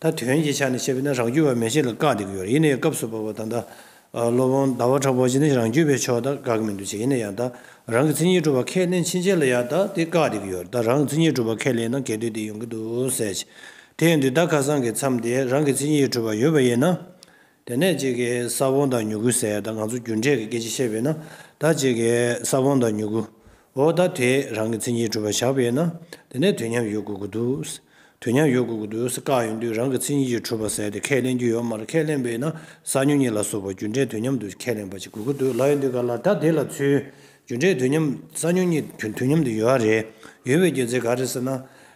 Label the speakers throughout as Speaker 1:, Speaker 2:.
Speaker 1: ད་དོན་གྱི་ཆ་ནས་བཤད་པས་ན་རང་རྒྱུད་བར་མའི་ཆེད་ལ་བཀག་སྟེ་དགོས་རེད་ཡིན་ན་ཡང་སྐབས་སུ་བབ་པ་དང་ད་སློབ་དཔོན་ཟླ་བ་གྲགས་པོ་གཅིག་ནི་རང་རྒྱུད་པའི་ཕྱོགས་ད་དགག་མི་འདུག་བྱས་ཡིན་ན་ཡང་ད་རང་གི་མཚན་ཉིད་གྲུབ་པ་ཁས་ལེན་ཕྱིན་ཆད་ལ་ཡང་ད་དེ་བཀག་སྟེ་དགོས་རེད་ད་རང་གི་མཚན་ཉིད་གྲུབ་པ་ཁས་ལེན་ན་གལ་འདོད་དེ་ཡོང་གི་འདུག་ཟེར། དེ་ཡིན་དུས་ད་ཁ་སང་གི་མཚམས་དེ་རང་གི་མཚན་ཉིད་གྲུབ་པ་ཡོད་པ་ཡིན་ན། དེ་ནས་ཅེ་ཀའི་ས་བོན་དང་མྱུ་གུའི་ཟས་དང་ང་ཚོ་རྒྱུ་འབྲས་ཀྱི་སྐད་ཅིག་བཤད་པས་ན་ད་ཅེ་ཀའི་ས་བོན་དང་མྱུ་གུའོ། ད་དེས་རང་གི་མཚན་ཉིད་གྲུབ་པར་བཞག་པས་ན་དེ་ནས་དུས་མཉམ་ཡོད་དགོས་ཀྱི་འདུག། དུས་མཉམ་ཡོད་དགོས་ཀྱི་འདུག་ཟེར་དཀའ་ཡོང་དུས་རང་གི་མཚན་ཉིད་ཀྱིས་གྲུབ་པར་ཟེར་ཏེ་ཁས་ལེན་རྒྱུ་ཡོད་མར་ཁས་ལེན་པས་ན་ས་མྱུ་གཉིས་ལ་སོགས་པ་རྒྱུ་འབྲས་དུས་མཉམ་དུ་ཁས་ལེན་པ་ཅིག་དགོས་ཀྱི་འདུག་ལ་ཡོང་དུས་ག་ལ་ད་དེ་ལ་ཚུལ། རྒྱུ་འབྲས་དུས་མཉམ་ས་མྱུ་གཉིས་དུས་མཉམ་དུ་ཡོད་རེད། ཡོད་པའི་རྒྱུ་མཚན་ག་རེ་ཟེར་ན།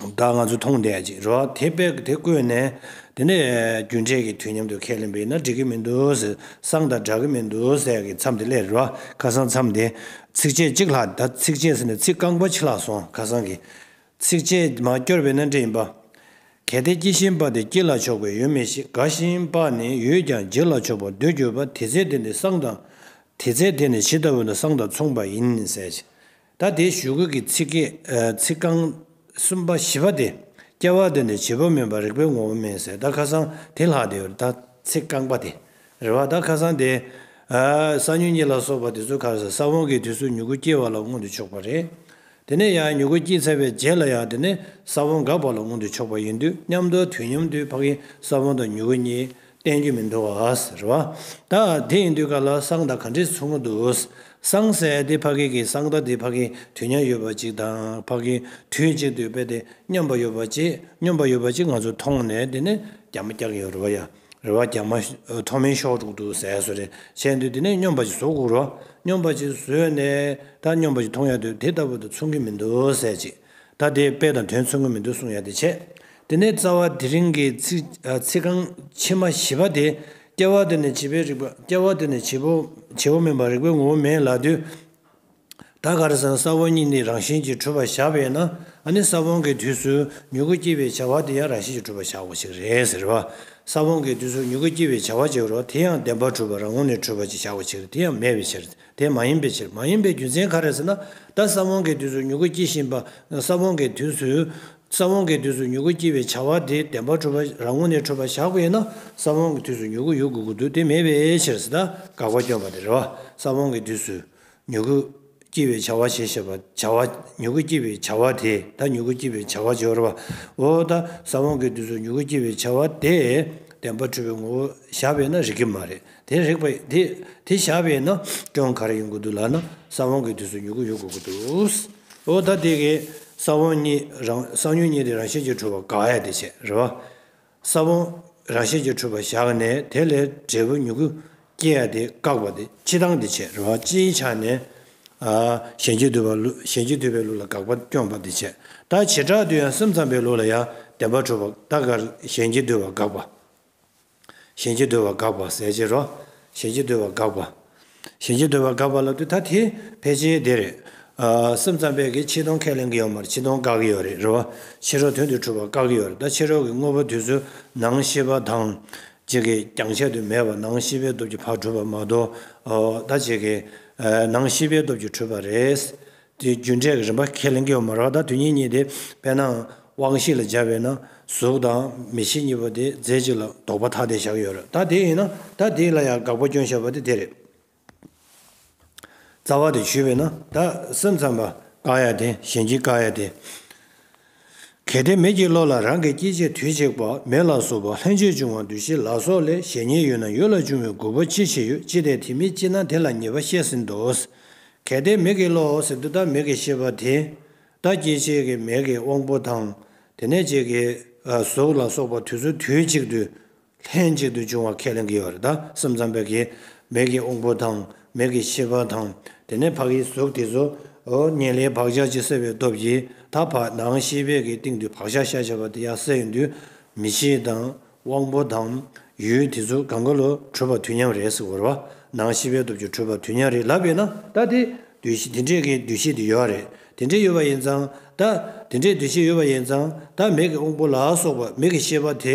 Speaker 1: བདག་ང་ཚོས་མཐོང་བསྡད་ཅིག་རོགས་དེ་དཔེ་དེ་བཀོད་ནས་དེ་ནས་རྒྱུ་འབྲས་ཀྱི་དུས་མཉམ་དུ་ཁས་ལེན་པ་ཡིན་ན་འགྲིག་གི་མི་འདུག་ཟེར་སང་དང་འདྲ་གི་མི་འདུག་ཟེར་གི་མཚམས་དེ་སླེབས་རོགས་ཁ་སང་མཚམས་དེ་ཚིགས་བཅད་གཅིག་ལྷག་ད་ཚིགས་བཅད་ཟེར་ནས་ཚིག་རྐང་པ་ཕྱི་ལྷག་སོང་ཁ་སང་གི་ཚིགས་བཅད་མ་བསྐྱོར་བས་ན་འདྲེ་ཡིན་པ། གལ་ཏེ་སྐྱི་ཤིང་པ་དེ་སྐྱི་ལ་ཕྱོགས་པའི་ཡོད་མི་ཞིག་དགའ་ཤིང་པ་ནི་ཡོད་ཀྱང་རྗེ་ལ་ཕྱོགས་པར་འདོད་གྱུར་པ་དེ་ཚེ་དེ་ནི་སང་དང་དེ་ཚེ་དེ་ནི་ཇི་ལྟ་བུ་ན་སང་དང་མཚུངས་པ་ཡིན་ཟེར། ད་དེའི་ཞུ་སྐུལ་གྱི་ཚིག་གི། ཚིག་རྐང། གསུམ་པ་བཞི་པ་དེ། སྐྱེ་བ་དོན་དུ་བྱེད་པོ་མིན་པར་རིག་པའི་ངོ་བོ་མིན་ཟེར་ད་ཁ་སང་དེ་ལྷག་དེ་ད་ཚིག་རྐང་པ་དེ། རེ་བ་ད་ཁ་སང་དེ། ས་ཉུལ་གཉིས་ལ་སོགས་པ་དེ་ཚོ་ཁར་ཟ་ས་བོང་གི་དུས་སུ་མྱུ་གུ་སྐྱེ་བ་ལ་མངོན་དུ་ཕྱོགས་པ་རེད། དེ་ནས་ཡང་མྱུ་གུ་སྐྱེས་ཚར་བའི་རྗེས་ལ་ཡང་དེ་ནས་ས་བོང་འགག་པ་ལ་མངོན་དུ་ཕྱོགས་པ་ཡིན་དུས་མཉམ་དུ་དུས་མཉམ་དུས་འཕགས་ཀྱི་ས་བོང་དང་མྱུ་གུ་གཉིས། བསྟན་རྒྱུ་མི་འདུག་ཟེར་བ། ད་དེ་ཡིན་དུས་ག་ལ་གསང་བདག་ག་འདྲས་ཚུགས་མུ་འདུག། གསང་སད་དེ་ཕ་གི་གི་གསང་བདག་དེ་ཕ་གི་དུས་མཉམ་ཡོད་པ་ཅིག་དང་ཕ་གི་དུས་གཅིག་ཏུ་དཔེ་དེ་སྙོམས་པ་ཡོད་པ་ཅིག་སྙོམས་པ་ཡོད་པ་ཅིག་ང་ཚོ་མཐོང་ནས་དེ་ནས་རྒྱ་མ་རྒྱག་གི་ཡོད་རེད་བ་ཡ་རེད་བ་རྒྱ་མ་མཐོ་མིན་ཤོག་དྲུག་ཏུ་ཟས་ཟོས་རེ་བྱས་འདུག་དེ་ནས་སྙོམས་པ་ཅིག་ཟོ་དགོས་རོ་སྙོམས་པ་ཅིག་ཟོས་ནས་ད་སྙོམས་པ་ཅིག་མཐོང་ཡ་དུས་དེ་ལྟ་བུ་དུ་ཚུགས་གི་མི་འདུག་ཟས་ཅིག། ད་ལྟའི་དཔེ་དང་དོན་མཚུངས་ཀྱི་མི་འདུག་གསུངས་ཡ་དེ་བྱས། དེ་ནས་རྩ་བ་དེ་རིང་གི་ཚིག་རྐང་ཕྱི་མ་བཞི་པ་དེ་སྐྱེ་བ་དེ་ནས་བྱིས་པའི་རིག་པ་སྐྱེ་བ་དེ་ནས་བྱིས་པ་མིན་པར་རིག་པའི་ངོ་བོ་མེད་ལགས་དུས། ད་ག་རེ་ཟེར་ན་ས་བོན་གཉིས་ནི་རང་བཞིན་གྱིས་གྲུབ་པར་བཞག་པས་ན་ཨ་ནི་ས་བོན་གྱི་དུས་སུ་མྱུ་གུ་སྐྱེ་བའི་བྱ་བ་དེ་ཡང་རང་བཞིན་གྱིས་གྲུབ་པར་བཞག་པ་ཞིག་རེད་ཟེར་བ། ས་བོན་གྱི་དུས་སུ་མྱུ་གུ་སྐྱེ་བའི་བྱ་བ་བྱེད་རོགས་དེ་ཡང་བདེན་པར་གྲུབ་པར་རང་ངོ་ནས་གྲུབ་པར་གྱི་བཞག་པ་ཞིག་རེད་དེ་ཡང་མེད་པའི་ཕྱིར། དེ་མ་ཡིན་པའི་ཕྱིར། མ་ཡིན་པའི་རྒྱུ་མཚན་ག་རེ་ཟེར་ན། ད་ས་བོན་གྱི་དུས་སུ་མྱུ་གུ་སྐྱེ་བཞིན་པ། ས་བོན་གྱི་དུས་སུ། ས་བོན་གྱི་དུས་སུ་མྱུ་གུ་སྐྱེ་བའི་བྱ་བ་དེ་བདེན་པར་འཁྲུལ་པ་རང་ངོ་ནས་འཁྲུལ་པར་བཞག་པས་ན་ས་བོན་གྱི་དུས་སུ་མྱུ་གུ་ཡོད་དགོས་ཀྱི་འདུག་དེ་མེད་པའི་ཕྱིར། ད་དགག་པ་བསྐྱོན་པ་དེ་རེད་བ། ས་བོན་གྱི་དུས་སུ། མྱུ་གུ། སྐྱེ་བའི་བྱ་བ་ཞེས་བཤད་པ། བྱ་བ། མྱུ་གུ་སྐྱེ་བའི་བྱ་བ་དེ། ད་མྱུ་གུ་སྐྱེ་བའི་བྱ་བ་སྦྱོར་བ། འོ། ད་ས་བོན་གྱི་དུས་སུ་མྱུ་གུ་སྐྱེ་བའི་བྱ་བ་དེ། བདེན་པར་འཁྲུལ་པའི་ངོ་བོར་བཞག་པས་ན་རིགས་ཀྱི་མ་རེད། དེ་རེག་པ་དེ་དེ་བཞག་པས་ན་སྐྱོན་ག་རེ་ཡོང་གི་འདུག་ལགས་ན་ས་བོན་གྱི་དུས་སུ་མྱུ་གུ་ཡོད་དགོས་ཀྱི་འདུག་འོ་ད་དེ་གའི་ས་བོན་གཉིས་རང་ས་ཉོན་གཉིས་དེ་རང་བཞིན་གྱིས་འཁྲུལ་བ་ག་ཡ་དེ་བྱེད་རེད་བ། ས་བོན་རང་བཞིན་གྱིས་འཁྲུལ་བ་བཞག་ནས་དེ་ལས་འབྲས་བུ་མྱུ་གུ་སྐྱེ་ཡ་དེ་བཀག་པ་དེ་ཕྱི་ལྡང་དེ་བྱེད་རེད་བ་སྤྱིའི་ཆ་ནས་གཞན་གྱིས་བསྡུས་པའི་ལུགས་ལ་དགག་པ་སྐྱོན་པ་དེ་བྱེད་ད་བྱེ་བྲག་ཏུ་ཡང་སེམས་ཙམ་པའི་ལུགས་ལ་ཡང་བདེན་པ་འཁྲུལ་བ་ད་ག་རེ་གཞན་གྱིས་བསྡུས་བ་དགག་པ། ཞེན་བྱེད་འདོད་པ་འགགས་པ་ཟད་ཕྱིར་རོ། ཞེན་བྱེད་འདོད་པ་འགགས་པ། ཞེན་བྱེད་འདོད་པ་འགགས་པ་ལ་དུས་ད་ཐེ་ཕལ་ཆེ་བདེ་རེད། སེམས་ཙམ་པས་ཀྱི་ཕྱི་སྟོང་ཁས་ལེན་གྱི་ཡོད་མར་ཕྱི་སྟོང་འགག་གི་ཡོད་རེད་རོ། ཕྱི་རོལ་དོན་དུ་གྲུབ་པ་འགག་གི་ཡོད་རེད་ད་ཕྱི་རོལ་གྱི་དངོས་པོ་དུས་སུ་ནང་ཤེས་པ་དང། བྱེད་ཀྱི་རྒྱང་ཆད་དུ་མེད་པ་ནང་ཤེས་པའི་སྟོབས་ཀྱི་བར་གྲུབ་པ་མ་གཏོགས། ད་བྱེད་ཀྱི། ནང་ཤེས་པའི་སྟོབས་ཀྱི་གྲུབ་པ་རེད། དེ་རྒྱུ་འབྲས་ཀྱི་རིམ་པ་ཁས་ལེན་གྱི་མ་རག་ད་དུས་ཉིད་གཉིས་ཏེ་དཔེར་ན་དབང་བཞི་ལ་སྦྱར་བས་ན་གཟུགས་དང་མི་ཕྱེད་གཉིས་པོ་དེ་རྫས་གཅིག་ལ་ལྡོག་པ་ཐ་དད་བཞག་ཡོད་རེད་ད་དེ་ཡིན་ན་ད་དེ་ལ་ཡང་དགག་པ་སྐྱོན་བཞག་པ་དེ་དེ་རེད། རྩ་བ་དེ་ཞུས་པས་ན་ད་སེམས་ཙམ་པ་དགག་ཡ་དེ་གཞན་གྱིས་བཀག་ཡ་དེ། གལ་ཏེ་མི་གྱི་བློ་ལ་རང་གི་སྐྱེ་མཆེད་དུས་གཅིག་པ་མེ་ལ་སོགས་པ་ལྷན་ཅིག་འབྱུང་བ་འདུ་བྱེད་ལ་སོགས་ལས་གཞན་ཉིད་ཡོད་ན་ཡོད་ལ་འབྱུང་བའི་དགོས་པ་ཅི་ཞིག་ཡོད་ཅི་སྟེ་དེ་མི་སྐྱེ་ན་དེ་ལ་ཉེས་པ་བཤད་ཟིན་ཏོ། གལ་ཏེ་མིག་གི་བློ་ཟེར་དུ་བདག་མེད་ཀྱི་ཤེས་པ་དེ་བདག་སྐྱེ་མཆེད་ཀྱི་མེད་ཀྱི་དབང་པོ་དང་དེ་ནས་ཅིག་གིས་གཟུགས་ལ་སོགས་པ་དུས་སོ་དུས་གཅིག་ཏུ་ལྷན་ཅིག་ཏུ་འབྱུང་བ་ཁས་ལེན་གྱི་བར་དག་གསུམ་ཙམ་པོ་གེ། མེད་ཀྱི་དབང་པོ་དང་མེད་ཀྱི་ཤེས་པ་དང་དེ་ནས་བག་ཡིད་གཟུགས་དེ་སོ། ཉེ་ལེའི་བག་ཆགས་ཀྱི་སེལ་བའི་སྟོབས་ཀྱིས་ད་བར་སྣང་ཤེས་བད་ཀྱི་སྟེང་དུ་བག་ཆགས་ཤ་ཆེ་བ་དེ་ཡང་སེལ་ཡང་འདུས་མི་བྱེད་དང་དབང་པོ་དང་ཡུལ་དེ་ཚོ་གང་གི་བློ་འཁྲུལ་པ་དུས་མཉམ་རེད་ཟེར་བར་བ་སྣང་ཤེས་པའི་སྟོབས་ཀྱི་འཁྲུལ་པ་དུས་མཉམ་རེད་ལབ་པས་ན་ད་དེ་དུས་དེ་འདྲས་ཀྱི་འདུ་ཤེས་དེ་ཡོད་རེད་དེ་འདྲས་ཡོད་པ་ཡིན་ཙང་ད་དེ་འདྲས་འདུ་ཤེས་ཡོད་པ་ཡིན་ཙང་ད་མེད་ཀྱི་དབང་པོ་ལ་སོགས་པ་མེད་ཀྱི་ཤེས་པ་དེ་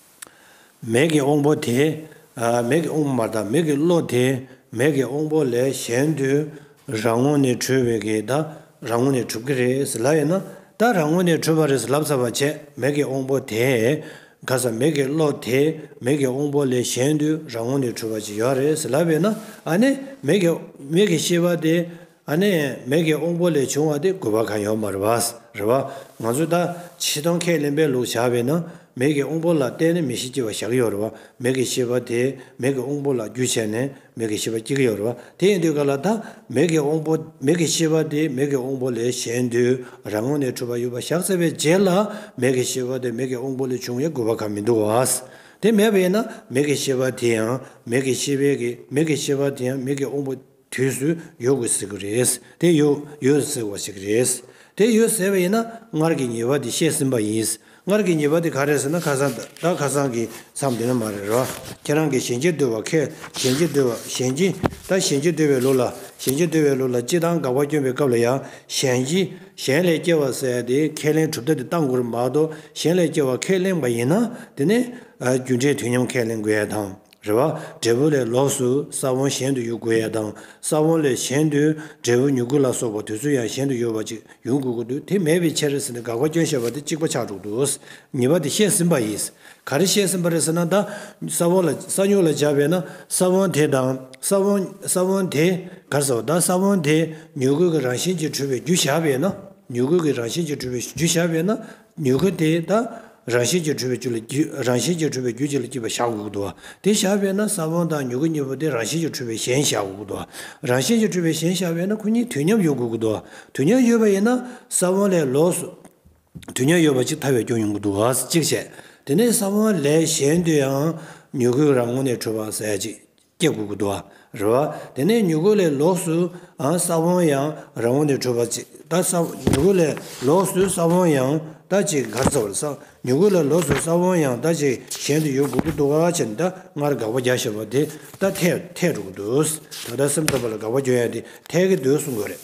Speaker 1: མེད་ཀྱི་དབང་པོ་དེས་མེད་ཀྱི་དབུ་མ་དང་མེད་ཀྱི་བློ་དེས་མེད་ཀྱི་དབང་པོ་ལས་གཞན་དུ་རང་ངོ་ནས་གྲོལ་བའི་གེ་ད་རང་ངོ་ནས་གྲུབ་ཀྱི་རེད་ཟེར་ལབ་ཡོད་ན་ད་རང་ངོ་ནས་གྲུབ་པ་རེད་ཟེར་ལབ་ཚར་བ་ཆད་མེད་ཀྱི་དབང་པོ་དེས་ག་ས་མེད་ཀྱི་བློ་དེས་མེད་ཀྱི་དབང་པོ་ལས་གཞན་དུ་རང་ངོ་ནས་གྲུབ་པ་ཅིག་ཡོད་རེད་ཟེར་ལབ་ཡོད་ན་ཨ་ནི་མེད་ཀྱི་ཤེས་པ་དེས་ཨ་ནེ། མེ་ཀེ་ཨོང་པོ་ལས་བྱུང་བ་དེ་དགོས་པ་གང་ཡོང་པ་རེད་བ། རེད་བ། ང་ཚོས་ད་ཕྱིས་ཐང་ཁས་ལེན་པའི་ལུགས་བྱ་བའི་ན། མེ་ཀེ་ཨོང་པོ་ལ་བརྟེན་ནས་མི་ཤི་སྐྱེ་བ་བཞག་གི་ཡོད་རེད་བ། མེ་ཀེ་ཤི་བ་དེས་མེ་ཀེ་ཨོང་པོ་ལ་རྒྱུ་བྱས་ནས་མེ་ཀེ་ཤི་བ་སྐྱེ་གི་ཡོད་རེད་བ། དེ་ཡིན་དུས་ག་ལ་ད་མེ་ཀེ་ཨོང་པོ། མེ་ཀེ་ཤི་བ་དེས་མེ་ཀེ་ཨོང་པོ་ལས་གཞན་དུས་རང་ངོ་ནས་འཁྲུལ་པ་ཡོད་པ་བཞག་ཚར་བའི་རྗེས་ལ་མེ་ཀེ་ཤི་བ་དེ་མེ་ཀེ་ཨོང་པོ་ལས་བྱུང་བའི་དགོས་པ་གང་མི་འདུག་བ། དེ་མེད་པའི་ན་མེ་ཀེ་ཤི་བ་དེ་ཡང་མེ་ཀེ་ཤི་བའི་གི་མེ་ཀེ་ཤི་བ་དེ་ཡང་མེ་ཀེ་ཨོང་པོ། དུས་སུ་ཡོད་དགོས་ཟེར་གི་རེད། དེ་ཡོད་ཡོད་ཟེར་བ་ཞིག་རེད། དེ་ཡོད་ཟེར་བ་ཡིན་ན་སྔར་གྱི་ཉེས་པ་དེ་བཤད་ཟིན་པ་ཡིན། སྔར་གྱི་ཉེས་པ་དེ་ག་རེད་ཟེར་ན་ཁ་སང་ད་ཁ་སང་གི་མཚམས་དེ་ན་མ་རེད་རོ། ཁྱེད་རང་གིས་ཞལ་འབྱེད་བསྟོད་པ་ཁས་ཞལ་འབྱེད་བསྟོད་པ་ཞལ་འབྱེད་ད་ཞལ་འབྱེད་བསྟོད་པའི་ལོ་ལ་ཞལ་འབྱེད་བསྟོད་པའི་ལོ་ལ་སྤྱི་བཏང་དགག་པ་བསྐྱོན་པའི་སྐབས་ལ་ཡང་ཞལ་འབྱེད་གཞན་ལས་སྐྱེ་བ་ཟེར་ཏེ་ཁས་ལེན་གྲུབ་མཐའ་དེ་བཏང་དགོས་ར་མ་གཏོགས་གཞན་ལས་སྐྱེ་བ་ཁས་ལེན་པ་ཡིན་ན་དེ་ནས་རྒྱུ་འབྲས་དུས་མཉམ་ཁས་ལེན་དགོས་ཡ་དང། རེ་བ། འབྲས་བུ་ལས་ལོགས་སུ་ས་བོན་གཞན་དུ་གཡུག་དགོས་ཡ་དང་ས་བོན་ལས་གཞན་དུ་འབྲས་བུ་མྱུ་གུ་ལ་སོགས་པ་དུས་ཚོད་ཡང་གཞན་དུ་ཡོད་པ་ཅིག་ཡོང་དགོས་ཀྱི་འདུག་དེ་མེད་པའི་ཕྱིར་ཟེར་ནས་དགག་པ་སྐྱོན་བཤད་པ་དེ་གཅིག་པ་ཆགས་འགྲོ་འདུག་གཉིས་པ་དེ་བཤད་ཟིན་པ་ཡིན། ག་རེ་བཤད་ཟིན་པ་རེད་ཟེར་ན་ད་ས་བོན་ལ་ས་མྱུག་ལ་སྦྱར་བས་ན་ས་བོན་དེ་དང་ས་བོན་ས་བོན་དེ་གར་ཟེར་བ་ད་ས་བོན་དེ་མྱུ་གུ་གི་རང་བཞིན་གྱིས་གྲུབ་པའི་རྒྱུ་བཞག་པས་ན་མྱུ་གུ་གི་རང་བཞིན་གྱིས་གྲུབ་པའི་རྒྱུ་བཞག་པས་ན་མྱུ་གུ་དེ་དག་རང་བཞིན་གྱིས་འཁྲུལ་པའི་རྒྱུ་ལ་རང་བཞིན་གྱིས་འཁྲུལ་པའི་རྒྱུ་གཅིག་ལ་སྐྱེས་པའི་ཞག་དགུ་དུ་བ། དེ་བཞག་པས་ན་ས་བོན་དང་མྱུ་གུ་གཉིས་པོ་དེ་རང་བཞིན་གྱིས་འཁྲུལ་པའི་གཞན་ཞག་དགུ་དུ་བ། རང་བཞིན་གྱིས་འཁྲུལ་པའི་གཞན་བཞག་པས་ན་ཁོ་གཉིས་དུས་མཉམ་ཡོད་དགུ་དུ་བ། དུས་མཉམ་ཡོད་པ་ཡིན་ན་ས་བོན་ལས་ལོགས་སུ་དུས་མཉམ་ཡོད་པ་གཅིག་ཐར་བའི་སྐྱོན་ཡོང་གི་འདུག་བ་གཅིག་བྱས། དེ་ནས་ས་བོན་ལས་གཞན་དུ་ཡང་མྱུ་གུ་རང་ངོ་ནས་འཁྲུལ་བ་ཟད་ཅིག། སྐྱེ་དགུ་གུ་དོག་རེ་བ། དེ་ནས་མྱུ་གུ་ལས་ལོགས་སུ་ས་བོན་ཡང་རང་བོ་ནས་འཕྲོས་པ་ཅིག་ད་ས་བོན་མྱུ་གུ་ལས་ལོགས་སུ་ས་བོན་ཡང་ད་ཅིག་གར་ས་བོན་ས་བོན་མྱུ་གུ་ལས་ལོགས་སུ་ས་བོན་ཡང་ད་ཅིག་གཞན་དུ་ཡོད་གུ་གུ་དོག་ཀ་ཅན་ད་སྔར་དགག་པ་བརྒྱ་བཤད་པ་དེ་ད་ཐལ་ཐལ་དྲུག་གུ་དོག་ད་ལྟ་སེམས་ཐོབ་པ་ལ་དགག་པ་བརྒྱ་ཡང་དེ་ཐལ་གི་དོད་གསུང་དགོས་རེད།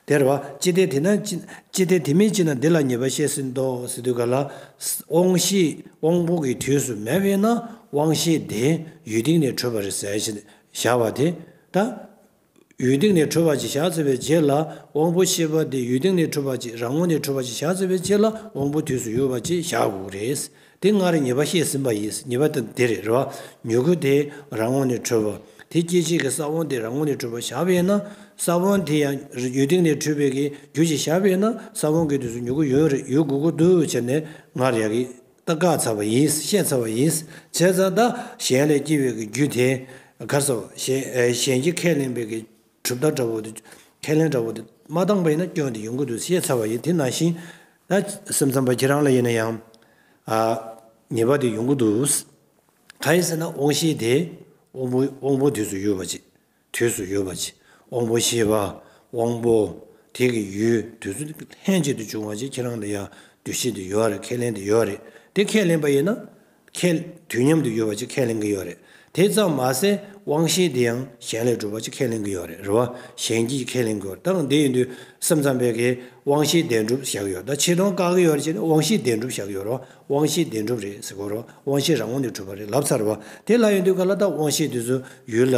Speaker 1: དེར་བ། ཅི་སྟེ་དེ་ན། ཅི་སྟེ་དེ་མི་ཅི་ན་འདི་ལ་ཉེས་པ་བཤད་ཟིན་ཏོ་ཟེར་དུས་ག་ལ། དབང་ཤེས་དབང་པོ་གི་དུས་སུ་མེད་པས་ན་དབང་ཤེས་དེ་ཡུལ་སྟེང་ནས་འཕྲོས་པར་ཟད་ཅེས་བྱ་བ་དེ་ལྟར། ཡུལ་སྟེང་ནས་འཕྲོས་པ་ཅེས་བྱ་ཟེར་བའི་རྗེས་ལ་དབང་པོ་ཤེས་པ་དེ་ཡུལ་སྟེང་ནས་འཕྲོས་པ་ཅེས་རང་ངོ་ནས་འཕྲོས་པ་ཅེས་བྱ་ཟེར་བའི་རྗེས་ལ་དབང་པོ་དུས་སུ་ཡོད་པ་ཅེས་བྱ་དགོས་རེད། དེ་སྔར་ཉེས་པ་བཤད་ཟིན་པ་ཡིན་ཉེས་པ་དེ་དེ་རེད་རེད་བ། མྱུ་གུ་དེ་རང་ངོ་ནས་འཕྲོས་པ། དེ་སྐྱེད་བྱེད་ཀྱི་ས་བོན་དེ་རང་ངོ་ནས་འཕྲོས་པ་ཞགས་པས་ན། ས་བོན་དེ་ཡང་ཡུལ་སྟེང་ནས་འཕྲོས་པའི་གི་རྒྱུ་གྱིས་ཞགས་པས་ན་ས་བོན་གྱི་དུས་སུ་མྱུ་གུ་ཡུན་རེ་ཡུལ་གུ་གུ་དུ་བྱས་ནས་སྔར་ཡག་གི་ཏག་བཀག་ཚར་བ་ཡིན་བཤད་ཚར་བ་ཡིན། བྱས་ཙང་ད་གཞན་ལས་སྐྱེ་བའི་གི་རྒྱུ་དེ་གར་སོང། གཞན་གྱི་ཁས་ལེན་པའི་གི་གྲུབ་མཐའ་འདྲ་བོ་དེ། ཁས་ལེན་འདྲ་བོ་དེ། མ་བཏང་བ་ཡིན་ན་སྐྱོན་དེ་ཡོང་གི་འདུག་ཤེས་ཚར་བ་ཡིན། དེ་ནང་བཞིན། ད་སེམས་ཙམ་པ་ཁྱེད་རང་ལ་ཡིན་ན་ཡང། ཉེས་པ་དེ་ཡོང་གི་འདུག། ག་ཡིན་ཟེར་ན་དབང་ཤེས་དེ། དབང་པོ་དབང་པོ་དུས་སུ་ཡོད་པ་ཅིག། དུས་སུ་ཡོད་པ་ཅིག། དབང་པོ་ཤེས་པ། དབང་པོ། དེ་གི་ཡུལ་དུས་སུ་ལྷན་ཅིག་ཏུ་འབྱུང་བ་ཅིག་ཁྱེད་རང་ལ་ཡང་འདུ་ཤེས་དེ་ཡོད་རེད་ཁས་ལེན་དེ་ཡོད་རེད་དེ་ཁས་ལེན་པ་ཡིན་ན། ཁས། དུས་མཉམ་དུ་ཡོད་པ་གཅིག་ཁས་ལེན་གྱི་ཡོད་རེད། དེ་ཙམ་མ་ཟད་དབང་ཤེས་དེ་ཡང་གཞན་ལས་གྲུབ་པ་གཅིག་ཁས་ལེན་གྱི་ཡོད་རེད་རེ་བ་གཞན་གྱིས་ཀྱི་ཁས་ལེན་གྱི་ཡོད་རེད་ད་དང་དེ་ཡིན་དུས་སེམས་ཙམ་པས་ཀྱི་དབང་ཤེས་བདེན་གྲུབ་བཞག་གི་ཡོད་ད་ཆེ་མཐོང་བཀག་གི་ཡོད་རེད་ཅེས་ནི་དབང་ཤེས་བདེན་གྲུབ་བཞག་གི་ཡོད་རོ་དབང་ཤེས་བདེན་གྲུབ་རེད་ཟེར་གོ་རོ་དབང་ཤེས་རང་ངོ་ནས་གྲུབ་པ་རེད་ལབ་ཚར་བ་དེ་ལ་ཡིན་དུས་ག་ལ་ད་དབང་ཤེས་དེ་ཚོ་ཡུལ་ལ་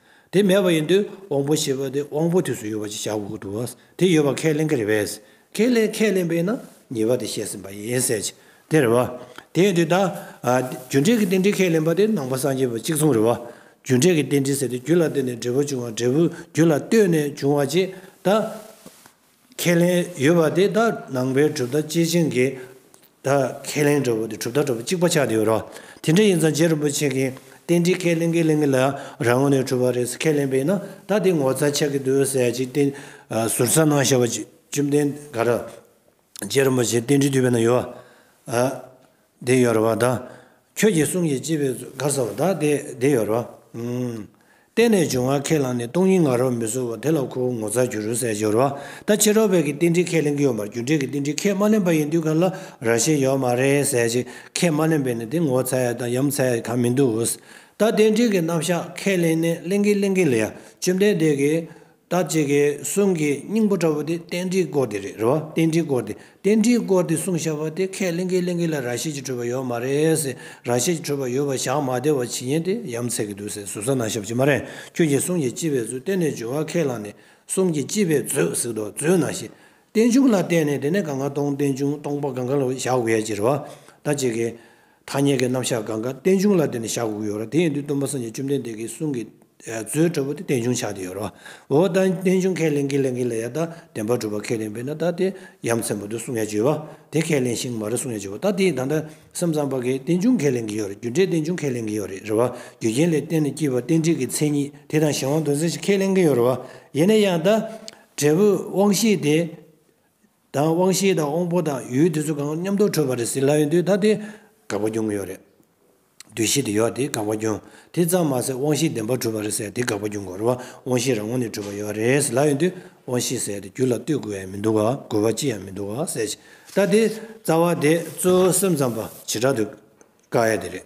Speaker 1: དེ་མེད་པ་ཡིན་དུས་དབང་པོ་ཞེས་པ་དེ་དབང་པོ་དུས་སུ་ཡོད་པ་ཅིག་བྱ་དགོས་ཀྱི་འདུག་ཨང། དེ་ཡོད་པ་ཁས་ལེན་གྱི་རེད་བས། ཁས་ལེན་ཁས་ལེན་པས་ན་ཉེས་པ་དེ་བཤད་ཟིན་པ་ཡིན་སྲིད་ཀྱི་དེ་རེད་བ། དེ་ཡིན་དུས་ད། རྒྱུ་འབྲས་ཀྱི་རྟེན་འབྲེལ་ཁས་ལེན་པ་དེ་ནང་པ་སངས་རྒྱས་པ་གཅིག་མཚུངས་རེད་བ། རྒྱུ་འབྲས་ཀྱི་རྟེན་འབྲེལ་ཟེར་དེ་རྒྱུ་ལ་བརྟེན་ནས་འབྲས་བུ་བྱུང་བ་འབྲས་བུ་རྒྱུ་ལ་ལྟོས་ནས་བྱུང་བ་ཅིག་ད། ཁས་ལེན་ཡོད་པ་དེ་དག་ནང་པའི་གྲུབ་མཐའ་སྐྱེས་ཆེན་གྱི་དག་ཁས་ལེན་གྲུབ་མཐའ་གྲུབ་མཐའ་གཅིག་པ་ཆགས་ཡོད་རོ། དེ་འདྲ་ཡིན་ཙང་རྗེ་རིན་པོ་ཆེ་གིས་རྟེན་འབྲེལ་ཁས་ལེན་ཁས་ལེན་གྱི་ལས་རང་ངོས་ནས་གྲུབ་པ་རེད་ཟེར་ཁས་ལེན་པས་ན་ད་དེ་ངོ་ཚ་ཆགས་ཀྱི་འདུག་ཟེར་ཡ་ཅིག་བསྟན་ཟུར་ཚར་གནང་བཞག་པ་བཅོམ་ལྡན་འགའ་རབ་རྗེ་རིན་པོ་ཆེ་རྟེན་འབྲེལ་དུས་བས་ན་ཡོད། བདེ་ཡོད་རེད་བ་ད། ཁྱོད་ཀྱི་གསུང་གིས་སྐྱིད་པའི་གར་ས་བ་ད་དེ་བདེ་ཡོད་རེད་བ། གཏན་ནས་འབྱུང་བ་ཁས་བླངས་ནས་སྟོང་ཉིད་ང་རོ་མི་བཟོ་བ་དེ་ལ་ཁོ་བོ་ངོ་ཚ་རྒྱུ་རུ་ཟེར་གྱི་རེད་བ་ད་ཕྱི་རོལ་བས་ཀྱི་རྟེན་འབྲེལ་ཁས་ལེན་གྱི་ཡོད་མར་རྒྱུ་འབྲས་ཀྱི་རྟེན་འབྲེལ་ཁས་མ་ལེན་པ་ཡིན་དུས་ག་ལ་ར་ཤེས་ཡོད་མ་རེད་ཟེར་གྱི་ཁས་མ་ལེན་པས་ནི་དེ་ངོ་ཚ་ཡ་དང་ཡམ་ཚ་ཡ་གང་མི་འདུག་ད་རྟེན་འབྲེལ་གྱི་རྣམ་བཞག་ཁས་ལེན་ནས་གླེང་གི་གླེང་གི་ལ་ཡ་བཅོམ་ལྡན་འདས་ཀྱིས་བདག་བྱེད་ཀྱི་གསུང་གི་སྙིང་པོ་འདྲ་བོ་དེ་རྟེན་འབྲེལ་སྐོར་དེ་རེད་རེད་བ། རྟེན་འབྲེལ་སྐོར་དེ། རྟེན་འབྲེལ་སྐོར་དེ་གསུང་བཞག་པ་དེ་ཁས་ལེན་གི་ལེན་གི་ལ་ར་ཤེས་ཀྱི་འཕྲོས་པ་ཡོད་མ་རེད་ཟེར་ར་ཤེས་ཀྱི་འཕྲོས་པ་ཡོད་པ་བཞག་མ་བདེ་བ་ཇི་སྙེད་དེ་ཡམ་ཚད་ཀྱི་འདུག་ཟེར་ཟུར་ཟ་ན་ཞབས་ཀྱི་མ་རེད་ཁྱོད་ཀྱི་གསུང་གི་སྤྱི་བའི་མཛོད་གཏན་ནས་འབྱོར་བ་ཁས་བླངས་ནས་གསུང་གི་སྤྱི་བའི་མཛོད་གཟིགས་འདུག་མཛོད་ན་ཞེས། རྟེན་འབྱུང་ལ་བརྟེན་ནས་དེ་ནས་གང་ག་སྟོང་རྟེན་འབྱུང་སྟོང་པ་གང་ག་ལ་བཞག་དགོས་ཡ་ཅི་རེད་བ། བདག་བྱེད་ཀྱི། ཐ་སྙད་ཀྱི་རྣམ་གཞག་གང་གཱ་རྟེན་འབྱུང་ལ་བརྟེན་ནས་བཞག་དགོས་ཡོད། དེ་ཡིན་དུས་སྟོན་པ་སངས་རྒྱས་བཅོམ་ལྡན་འདས་ཀྱི་གསུང་གི་མཛོད་ཁྲོད་པོ་ཏི་རྟེན་འབྱུང་ཆགས་ཏེ་ཡོད། འོ་ད་རྟེན་འབྱུང་ཁས་ལེན་གྱི་ལས་འགན་ལ་ཡང་དག་བདེན་པར་གྲུབ་པ་ཁས་ལེན་པས་ན་ད་ལྟའི་ཡ་མཚན་པོ་ཏི་གསུང་ཡ་བརྗོད་པ་དེ་ཁས་ལེན་ཞིང་མ་རི་གསུང་ཡ་བརྗོད་པ་ད་དེའི་ད་ལྟ་སེམས་ཙམ་པ་ཀའི་རྟེན་འབྱུང་ཁས་ལེན་གྱི་ཡོད་རེད་རྒྱུ་འབྲས་རྟེན་འབྱུང་ཁས་ལེན་གྱི་ཡོད་རེད་རེད་བ་རྒྱུ་རྐྱེན་ལས་བརྟེན་ནས་སྐྱེས་པ་རྟེན་འབྲེལ་གྱི་མཚན་ཉིད་དེ་དང་གཞན་དབང་དོན་ཚན་ཞིག་ཁས་ལེན་གྱི་ཡོད་རེད་བ་ཡེ་ནས་ཡང་དག་འབྲས་བུ་དབང་ཤེས་དེ། དང་དབང་ཤེས་དང་དབང་པོ་དང་ཡུལ་དེ་ཚོ་གང་མཉམ་དུ་འཕྲོད་པ་རེད་ཟེར་ལབ་ཡོང་དུས་ད་དེ་དགག་པ་འབྱུང་གི་ཡོད་རེད། དུས་ཤིག་དེ་ཡོད་དེ་དགག་པ་འབྱུང་དེ་ཙམ་མ་ཟད་དབང་ཤེས་བདེན་པར་འཁྲུལ་པ་རེད་ཟེར་དེ་དགག་པ་འབྱུང་དགོས་རེད་བ་དབང་ཤེས་རང་ངོ་ནས་འཁྲུལ་པ་ཡོད་རེད་ཟེར་ལབ་ཡོང་དུས་དབང་ཤེས་ཟེར་དེ་རྒྱུ་ལ་ལྟོས་དགོས་ཡ་མི་འདུག་ག་དགོས་པ་ཅི་ཡང་མི་འདུག་ག་ཟེར་གྱི་ད་དེ་རྩ་བ་དེ་ཚོའི་སེམས་ཙམ་པ་བྱེ་བྲག་ཏུ་དཀར་ཡ་དེ་རེད།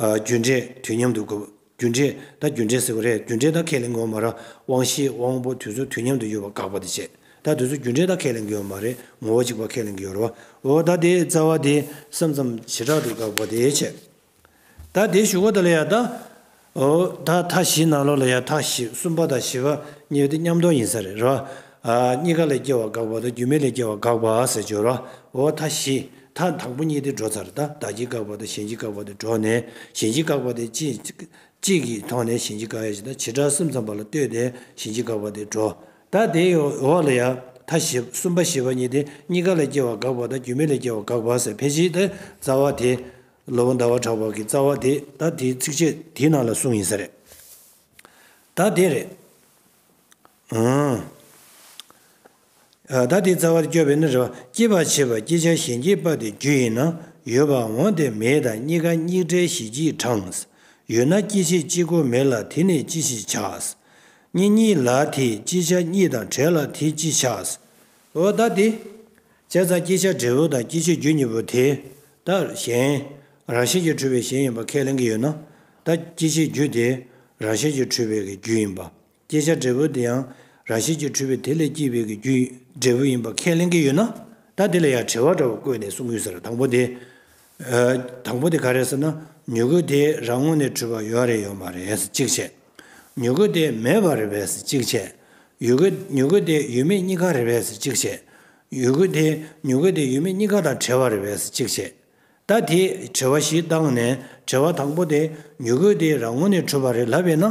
Speaker 1: རྒྱུ་འབྲས་དུས་མཉམ་དུ་འགོད། རྒྱུ་འབྲས་ད་རྒྱུ་འབྲས་ཟེར་བ་རེད་རྒྱུ་འབྲས་ད་ཁས་ལེན་དགོས་མ་རེད་དབང་ཤེས་དབང་པོ་དུས་ཚོད་དུས་མཉམ་དུ་ཡོད་པ་དགག་པ་དེ་བྱེད་ད་དུས་ཚོད་རྒྱུ་འབྲས་ད་ཁས་ལེན་དགོས་མ་རེད་ངོ་བོ་གཅིག་པ་ཁས་ལེན་གི་ཡོད་རེད་བ་འོ་ད་དེ་རྩ་བ་དེ་སམ་མཚམས་བྱེ་བྲག་ཏུ་དགག་པ་དེ་བྱེད་ད་དེ་ཞུ་བ་ད་ལ་ཡ་ད་འོ་ད་མཐའ་བཞི་ནང་ལོགས་ལ་ཡ་མཐའ་བཞི་གསུམ་པ་དང་བཞི་པ་གཉིས་པ་དེ་མཉམ་རྟོགས་ཡིན་ས་རེད་རེད་བ། གཉིས་ཀ་ལས་སྐྱེ་བ་དགག་པ་དང་རྒྱུ་མེད་ལས་སྐྱེ་བ་དགག་པ་ཟེར་བྱོས་རེད་བ་འོ་མཐའ་བཞི། མཐའ་དང་པོ་གཉིས་ཏེ་འགྲོ་ཚར་དང་བདག་གཅིག་བཀག་པ་དང་གཞན་གཅིག་བཀག་པ་དེ་འགྲོ་ནས་གཞན་གཅིག་བཀག་པ་དེ་གཅིག་གིས་མཐོང་ནས་གཞན་གཅིག་བཀག་ཡ་བྱེད་དང་བྱེ་བྲག་གསུམ་ཚང་པ་ལ་ལྟོས་ཏེ་གཞན་གཅིག་བཀག་པ་དེ་འགྲོ། ད་དེའི་འོག་ལ་ཡང་མཐའ་བཞི་གསུམ་པ་བཞི་པ་གཉིས་ཏེ་གཉིས་ཀ་ལས་སྐྱེ་བ་འགག་པ་དང་རྒྱུ་མེད་ལས་སྐྱེ་བ་འགག་པ་སེལ་ཕལ་ཆེར་དེ་རྩ་བ་དེ། ལོ་བ་ཟླ་བ་གྲགས་པ་གི་རྩ་བ་དེ་ད་དེའི་ཚིགས་བཅད་དེའི་ནང་ལ་གསུངས་ཡིན་ས་རེད། ད་དེ་རེད། བདག་དེའི་རྩ་བར་སྐྱོབ་པས་ན་རེ་བ་སྐྱེད་པར་བྱེད་པ་སྐྱེད་བྱ་གཞན་སྐྱེད་པ་དེ་རྒྱུ་ཡིན་ན་ཡོད་པར་འོང་སྟེ་མེད་དང་གཉིས་ཀ་གཉིས་བྲལ་ཞི་བགྱིས་གྲངས། ཡོད་ན་སྐྱེད་བྱེད་གཅིག་གོ་མེད་ལ་དེ་ནི་ཅི་ཞིག་བྱ། གཉིས་གཉིས་ལ་དེས་སྐྱེད་བྱ་གཉིས་དང་བྲལ་ལ་དེས་ཅི་བྱ། འོ་བདག་དེ། བྱས་ཙང་སྐྱེད་བྱ་འབྲས་བུ་དང་སྐྱེད་བྱེད་རྒྱུ་གཉིས་པོ་དེ་ལྟར་གཞན། རང་བཞིན་གྱིས་འཁྲུལ་པའི་གཞན་ཡིན་པར་ཁས་ལེན་གྱི་ཡོད་ན། བདག་སྐྱེད་བྱེད་རྒྱུ་དེ་རང་བཞིན་གྱིས་འཁྲུལ་པའི་རྒྱུ་ཡིན་པ། བསྐྱེད་བྱ་འབྲས་བུ་དེ་ཡང་རང་བཞིན་གྱིས་འཁྲུལ་པའི་དེ་ལས་སྐྱེས་པའི་གི་རྒྱུ་འབྲས་བུ་ཡིན་པར་ཁས་ལེན་གྱི་ཡོད་ན། ད་དེ་ལ་ཡང་བྲལ་བ་འདྲ་བར་བཀོད་ནས་གསུངས་ཡོད་ཟེར་དང་པོ་དེ། དང་པོ་དེ་ག་རེད་ཟེར་ན་མྱུ་གུ་དེ་རང་ངོ་ནས་འཁྲུལ་པ་ཡོད་རེད་ཡོད་མ་རེད་ཟེར་གཅིག་བྱས། མྱུ་གུ་དེ་མེད་པ་རེད་བས་ཟེར་གཅིག་བྱས། ཡུ་གུ་མྱུ་གུ་དེ་ཡོད་མེད་གཉིས་ཀ་རེད་བས་ཟེར་གཅིག་བྱས། ཡུ་གུ་དེ་མྱུ་གུ་དེ་ཡོད་མེད་གཉིས་ཀ་དང་བྲལ་བ་རེད་བས་ཟེར་གཅིག་བྱས། ད་དེས་དྲི་བ་བཞི་བཏང་ནས་དྲི་བ་དང་པོ་དེ་མྱུ་གུ་དེ་རང་ངོ་ནས་གྲུབ་པ་རེད་ལབ་པས་ན།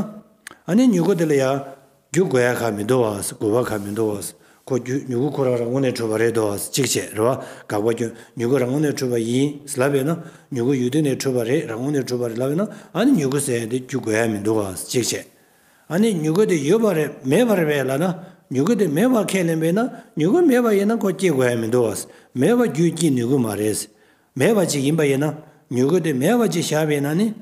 Speaker 1: ཨ་ནི་མྱུ་གུ་དེ་ལ་ཡང་རྒྱུ་དགོས་ཡ་ག་མི་འདུག་བ་ཟེར་དགོས་པ་ག་མི་འདུག་བ་ཟེར་ཁོ་རྒྱུ་མྱུ་གུ་ཁོ་རང་རང་ངོ་ནས་གྲུབ་པ་རེད་འདུག་བ་ཟེར་གཅིག་བྱས་རེད་བ་དགག་པ་རྒྱུ་མྱུ་གུ་རང་ངོ་ནས་གྲུབ་པ་ཡིན་ཟེར་ལབ་པས་ན་མྱུ་གུ་ཡུལ་དུས་ནས་གྲུབ་པ་རེད་རང་ངོ་ནས་གྲུབ་པ་རེད་ལབ་པས་ན་ཨ་ནི་མྱུ་གུ་ཟེར་ཡ་དེ་རྒྱུ་དགོས་ཡ་མི་འདུག་བ་ཟེར་གཅིག་བྱས། ཨ་ནི་མྱུ་གུ་དེ་ཡོད་པ་རེད་མེད་པ་རེད་བས་ལ་ན་མྱུ་གུ་དེ་མེད་པར་ཁས་ལེན་པས་ན་མྱུ་གུ་མེད་པ་ཡིན་ན་ཁོ་སྐྱེ་དགོས་ཡ་མི་འདུག་བ་མེད་པ་རྒྱུས་སྐྱེ་ནུས་གུ་མ་རེད། མེད་པ་ཅིག་ཡིན་པ་ཡིན་ན་མྱུ་གུ་དེ་མེད་པ་ཅིག་བཞག་པས་ན་ནི།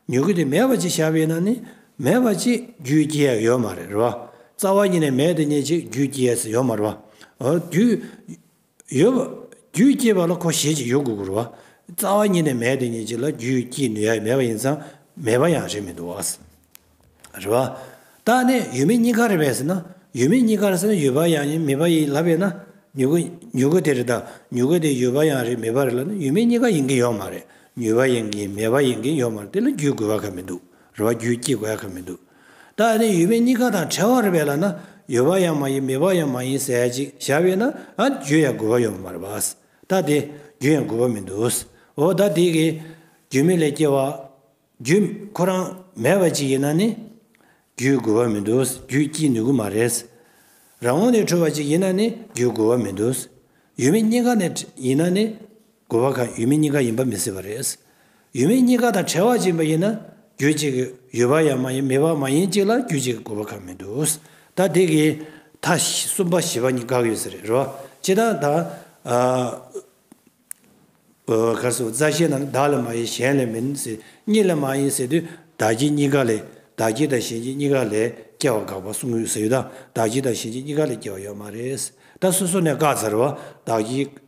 Speaker 1: མྱུ་གུ་དེ་མེད་པ་ཅིག་བཞག་པས་ན་ནི་མེད་པ་ཅིག་རྒྱུས་སྐྱེ་ཡ་ཡོད་མ་རེད་བ་རྩ་བ་ཉིད་ནས་མེད་དེ་ཉིད་ཅིག་རྒྱུས་སྐྱེ་ཡ་སི་ཡོད་མ་རེད་བ་རྒྱུས། ཡོད། རྒྱུད་སྐྱེས་པ་ལ་གོ་ཞེས་ཀྱི་ཡོད་དགུ་དགུར་བ། རྩ་བ་ཉིད་ནས་མེད་དེ་ཉིད་ཀྱི་ལ་རྒྱུད་སྐྱེས་ནུས་ཡ་མེད་པ་ཡིན་ཙང་མེད་པ་ཡང་རེད་མི་འདུག་བ། རེད་བ། ད་ནི་ཡོད་མེད་གཉིས་ཀ་རེད་བས་ཟེར་ན་ཡོད་མེད་གཉིས་ཀར་ཟེར་ན་ཡོད་པ་ཡང་ཡིན་མེད་པ་ཡིན་ལབ་པས་ན་མྱུ་གུ་མྱུ་གུ་དེ་རེད་ད་མྱུ་གུ་དེ་ཡོད་པ་ཡང་རེད་མེད་པ་རེད་ལ་ནི་ཡོད་མེད་གཉིས་ཀ་ཡིན་གྱིན་ཡོད་མ་རེད་མྱུར་བ་ཡིན་གྱིན་མེད་པ་ཡིན་གྱིན་ཡོད་མ་རེད་དེ་ལ་རྒྱུད་དགོས་པ་ག་མི་འདུག་རེད་བ་རྒྱུད་སྐྱེས་དགོས་ཡ་ག་མི་འདུག། ད་ནི་ཡོད་མེད་གཉིས་ཀ་དང་བྲལ་བར་བས་ལ་ན་ཡོད་པ་ཡང་མ་ཡིན་མེད་པ་ཡང་མ་ཡིན་ཟད་ཅིག་བྱ་བས་ན་རྒྱུ་ཡང་དགོས་པ་ཡོད་མ་རེད་པ། ད་དེ་རྒྱུ་ཡང་དགོས་པ་མི་འདུག་འོ་ད་དེ་གི་རྒྱུ་མེད་ལས་སྐྱེ་བ། རྒྱུ་ཁོ་རང་མེད་པ་ཅིག་ཡིན་ན་ནི་རྒྱུའི་དགོས་པ་མི་འདུག་རྒྱུ་སྐྱེ་ནུས་ཀྱི་མ་རེད། རང་ངོ་ནས་འཁྲུལ་བ་ཅིག་ཡིན་ན་ནི་རྒྱུའི་དགོས་པ་མི་འདུག་ཡོད་མེད་གཉིས་ཀ་ནས་ཡིན་ན་ནི། དགོས་པ་ཁག་ཡོད་མེད་གཉིས་ཀ་ཡིན་པ་མི་སྲིད་པ་རེད། ཡོད་མེད་གཉིས་ཀ་དང་བྲལ་བ་ཅིག་མ་ཡིན་ན་རྒྱུ་གཅིག་གིས་ཡོད་པ་ཡང་མ་ཡིན་མེད་པ་མ་ཡིན་གཅིག་ལ་རྒྱུ་གཅིག་གི་དགོས་པ་ཁག་མི་འདུག་ད་དེ་གིས་ད་གསུམ་པ་བཞི་པ་གཉིས་དགག་ཡོད་ས་རེད་རེད་བ། ཅི་ད་ད་གར་སོང་རྩ་ཤེ་རྣམས་བདག་ལས་མ་ཡིན་གཞན་ལས་མིན་ཟེར་གཉིས་ལས་མ་ཡིན་ཟེར་དུས་བདག་གཅིག་གཉིས་ཀ་ལས་བདག་གཅིག་དང་གཞན་གཅིག་གཉིས་ཀ་ལས་སྐྱེ་བ་དགག་པ་གསུམ་ཡོད་ས་ཡོད་ད་བདག་གཅིག་དང་གཞན་གཅིག་གཉིས་ཀ་ལས་སྐྱེ་བ་ཡོད་མ་རེད། ད་སོ་སོ་ནས་དགག་ཚར་བ་བདག་གཅིག།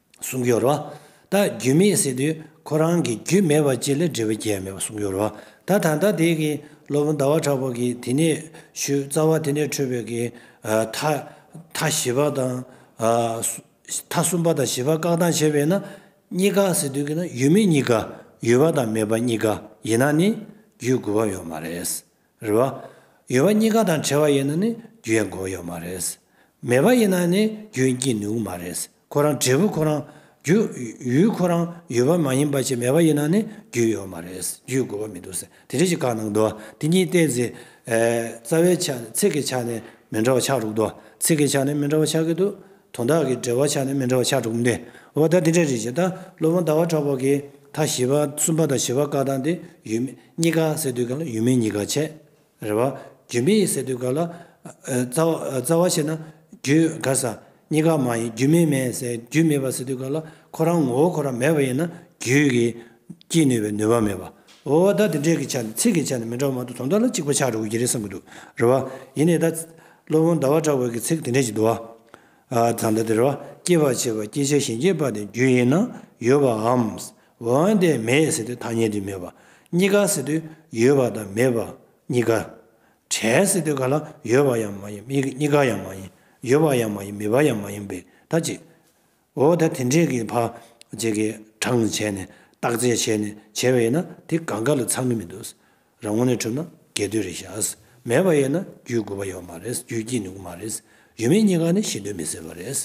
Speaker 1: གསུང་སྦྱོར་བ། ད་རྒྱུད་མེད་ཟེར་དུས་ཁོ་རང་གི་རྒྱུད་མེད་པ་ཅིག་ལས་འབྲས་བུ་རྒྱས་མེད་པ་གསུང་སྦྱོར་བ། ད་ད་ལྟ་དེ་གི་སློབ་དཔོན་ཟླ་བ་གྲགས་པ་གིས་དེ་ནས་ཞུ་རྩ་བ་དེ་ནས་འཕྲོས་པའི་གི་མཐའ་མཐའ་བཞི་པ་དང། མཐའ་གསུམ་པ་དང་བཞི་པ་བཀག་དང་བྱས་པས་ན་གཉིས་ཀ་ཟེར་དུས་ཀྱི་ན་ཡོད་མེད་གཉིས་ཀ་ཡོད་པ་དང་མེད་པ་གཉིས་ཀ་ཡིན་ན་ནི་རྒྱུད་དགུ་པ་ཡོད་མ་རེད། རེད་བ། ཡོད་བ་གཉིས་ཀ་དང་བྲལ་བ་ཡིན་ན་ནི་རྒྱུ་ཡང་འགོག་ཡོད་མ་རེད། མེད་པ་ཡིན་ན་ནི་རྒྱུ་ཡང་སྐྱེ་ནུས་མ་རེད། ཁོ་རང་འབྲས་བུ་ཁོ་རང་རྒྱུ། ཡུལ་ཁོ་རང་ཡོད་པ་མ་ཡིན་པ་ཆེད་མེད་པ་ཡིན་ན་ནི་རྒྱུ་ཡོད་མ་རེད། རྒྱུའི་དགོས་པ་མི་འདུག་ཟེར་དེ་འདྲའི་ཞིག་བཀག་གནང་འདུག་དེ་གཉིས་བལྟས་ཚེ། རྩ་བའི་ཆ་ནས་ཚིག་གི་ཆ་ནས་མི་འདྲ་བ་ཆགས་འདུག་ཚིག་གི་ཆ་ནས་མི་འདྲ་བ་ཆགས་ཀྱི་འདུག་དོན་དག་གི་འགྲེལ་བ་ཆ་ནས་མི་འདྲ་བ་ཆ་དྲུག་འདི་བ་ད་འདི་འདྲ་རེད་ཅེས་ད་སློབ་དཔོན་ཟླ་བ་གྲགས་པ་གིས་ད་བཞི་བ་གསུམ་པ་དང་བཞི་བ་ཀ་དག་འདི་ཡོད་མེད་གཉིས་ཀ་སེལ་དུས་ག་ལ་ཡོད་མེད་གཉིས་ཀ་ཆད་རེད་བ། རྒྱུ་མེད་ཡིན་ཟེར་དུས་ག་ལ་རྩ་བ་ཆད་ན་རྒྱུ་ག་ས་གཉིས་ཀ་མ་ཡིན་རྒྱུ་མེད་མེད་ཟེར་རྒྱུ་མེད་པ་ཟེར་དུས་ག་ལ་ཁོ་རང་ངོ་བོ་ཁོ་རང་མེད་པ་ཡིན་ན་རྒྱུས་ཀྱིས་སྐྱེད་ནུས་པའི་ནུས་པ་མེད་བ། བ་ད་འདི་འདྲ་གི་ཆ་ནས་ཚིག་གི་ཆ་ནས་མི་འདྲ་བ་མ་གཏོགས་དོན་དག་ལ་གཅིག་པ་ཆ་དྲུག་གི་རེད་བསམ་གྱི་འདུག་རེད་བ། ཡིན་ནའི་ད། སློབ་དཔོན་ཟླ་བ་གྲགས་པའི་གི་ཚིག་དེ་འདྲས་ཀྱིས་བསྡུ་བ། བརྫངས་འདི་དེར་བ་སྐྱེད་པར་བྱེད་པ་སྐྱེད་བྱ་ཞིང་སྐྱེད་པ་དེ་རྒྱུ་ཡིན་ན་ཡོད་པའམ། འོན་ཏེ་མེད་ཟེར་དུས་ཐ་སྙད་དུ་མེད་པ་གཉིས་ཀ་ཟེར་དུས་ཡོད་པ་དང་མེད་པ་གཉིས་ཀ། བྲལ་ཟེར་དུས་ག་ལ་ཡོད་པ་ཡང་མ་ཡིན་གཉིས་ཀ་ཡང་མ་ཡིན་ཡོད་པ་ཡང་མ་ཡིན་མེད་པ་ཡང་མ་ཡིན་པས་ཐ་ཅི། འོ་ད་དེ་འདྲས་ཀྱི་བ་ཇེ་ཀའི་གྲངས་བྱས་ནས་བརྟག་དཔྱད་བྱས་ནས་བྱས་པ་ཡིན་ན་དེ་ག་འགའ་ལ་ཚང་གི་མི་འདུག་ཟེར་ར་དངོས་གནས་གྲུབ་ན་རྒྱས་བསྡུས་རེ་བྱ་ཟེར་མེད་པ་ཡོད་ན་རྒྱུས་དགོས་པ་ཡོད་མ་རེད་རྒྱུས་སྐྱེས་ནུས་མ་རེད་ཡོད་མེད་གཉིས་ཀ་ནི་ཤེས་འདོད་མི་སྲིད་པ་རེད་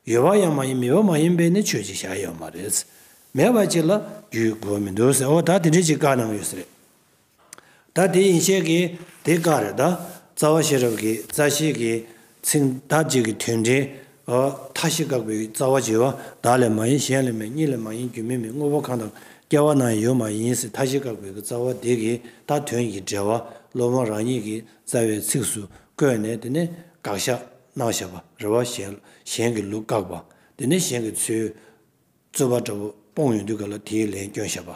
Speaker 1: ཡོད་པ་ཡང་མ་ཡིན་མེད་པ་མ་ཡིན་པས་ནི་ཆོས་ཅིག་བྱ་ཡོད་མ་རེད་མེད་པ་ཅིག་ལ་རྒྱུས་དགོས་པ་མི་འདུག་ཟེར་འོ་ད་དེ་འདྲས་ཀྱི་བཀའ་གནང་ཡོད་ཟེར། ད་དེ་ཡིན་ཤེས་ཀྱི་དེ་བཀག་རེད་ད། རྩ་བ་ཤེས་རབ་ཀྱི་རྩ་ཤེས་ཀྱི་ཚིག་མཐའ་གཅིག་གི་དོན་འདྲེས། མཐའ་བཞི་བཀག་པའི་རྩ་བ་བྱེ་བ་བདག་ལས་མ་ཡིན་གཞན་ལས་མེད་གཉིས་ལས་མ་ཡིན་རྒྱུ་མེད་མེད་དངོས་པོ་གང་དང་སྐྱེ་བ་ན་ཡོད་མ་ཡིན་སྲིད་མཐའ་བཞི་བཀག་པའི་རྩ་བ་དེ་གི་མཐའ་དོན་གྱི་འབྲེལ་བ་སློབ་མ་རང་ཉིད་ཀྱི་རྩ་བའི་ཚིགས་སུ་བཀོད་ནས་དེ་ནས་དགག་བཞག་གནང་བཞག་པ་རེ་བ་གཞན་གྱི་ལུགས་བཀག་པ་དེ་ནས་གཞན་གྱི་ཚུལ་རྩོད་པ་འདྲ་པོ་སྤོང་ཡོང་དུས་ག་ལ་དེའི་ལན་སྐྱོན་བཤད་པ་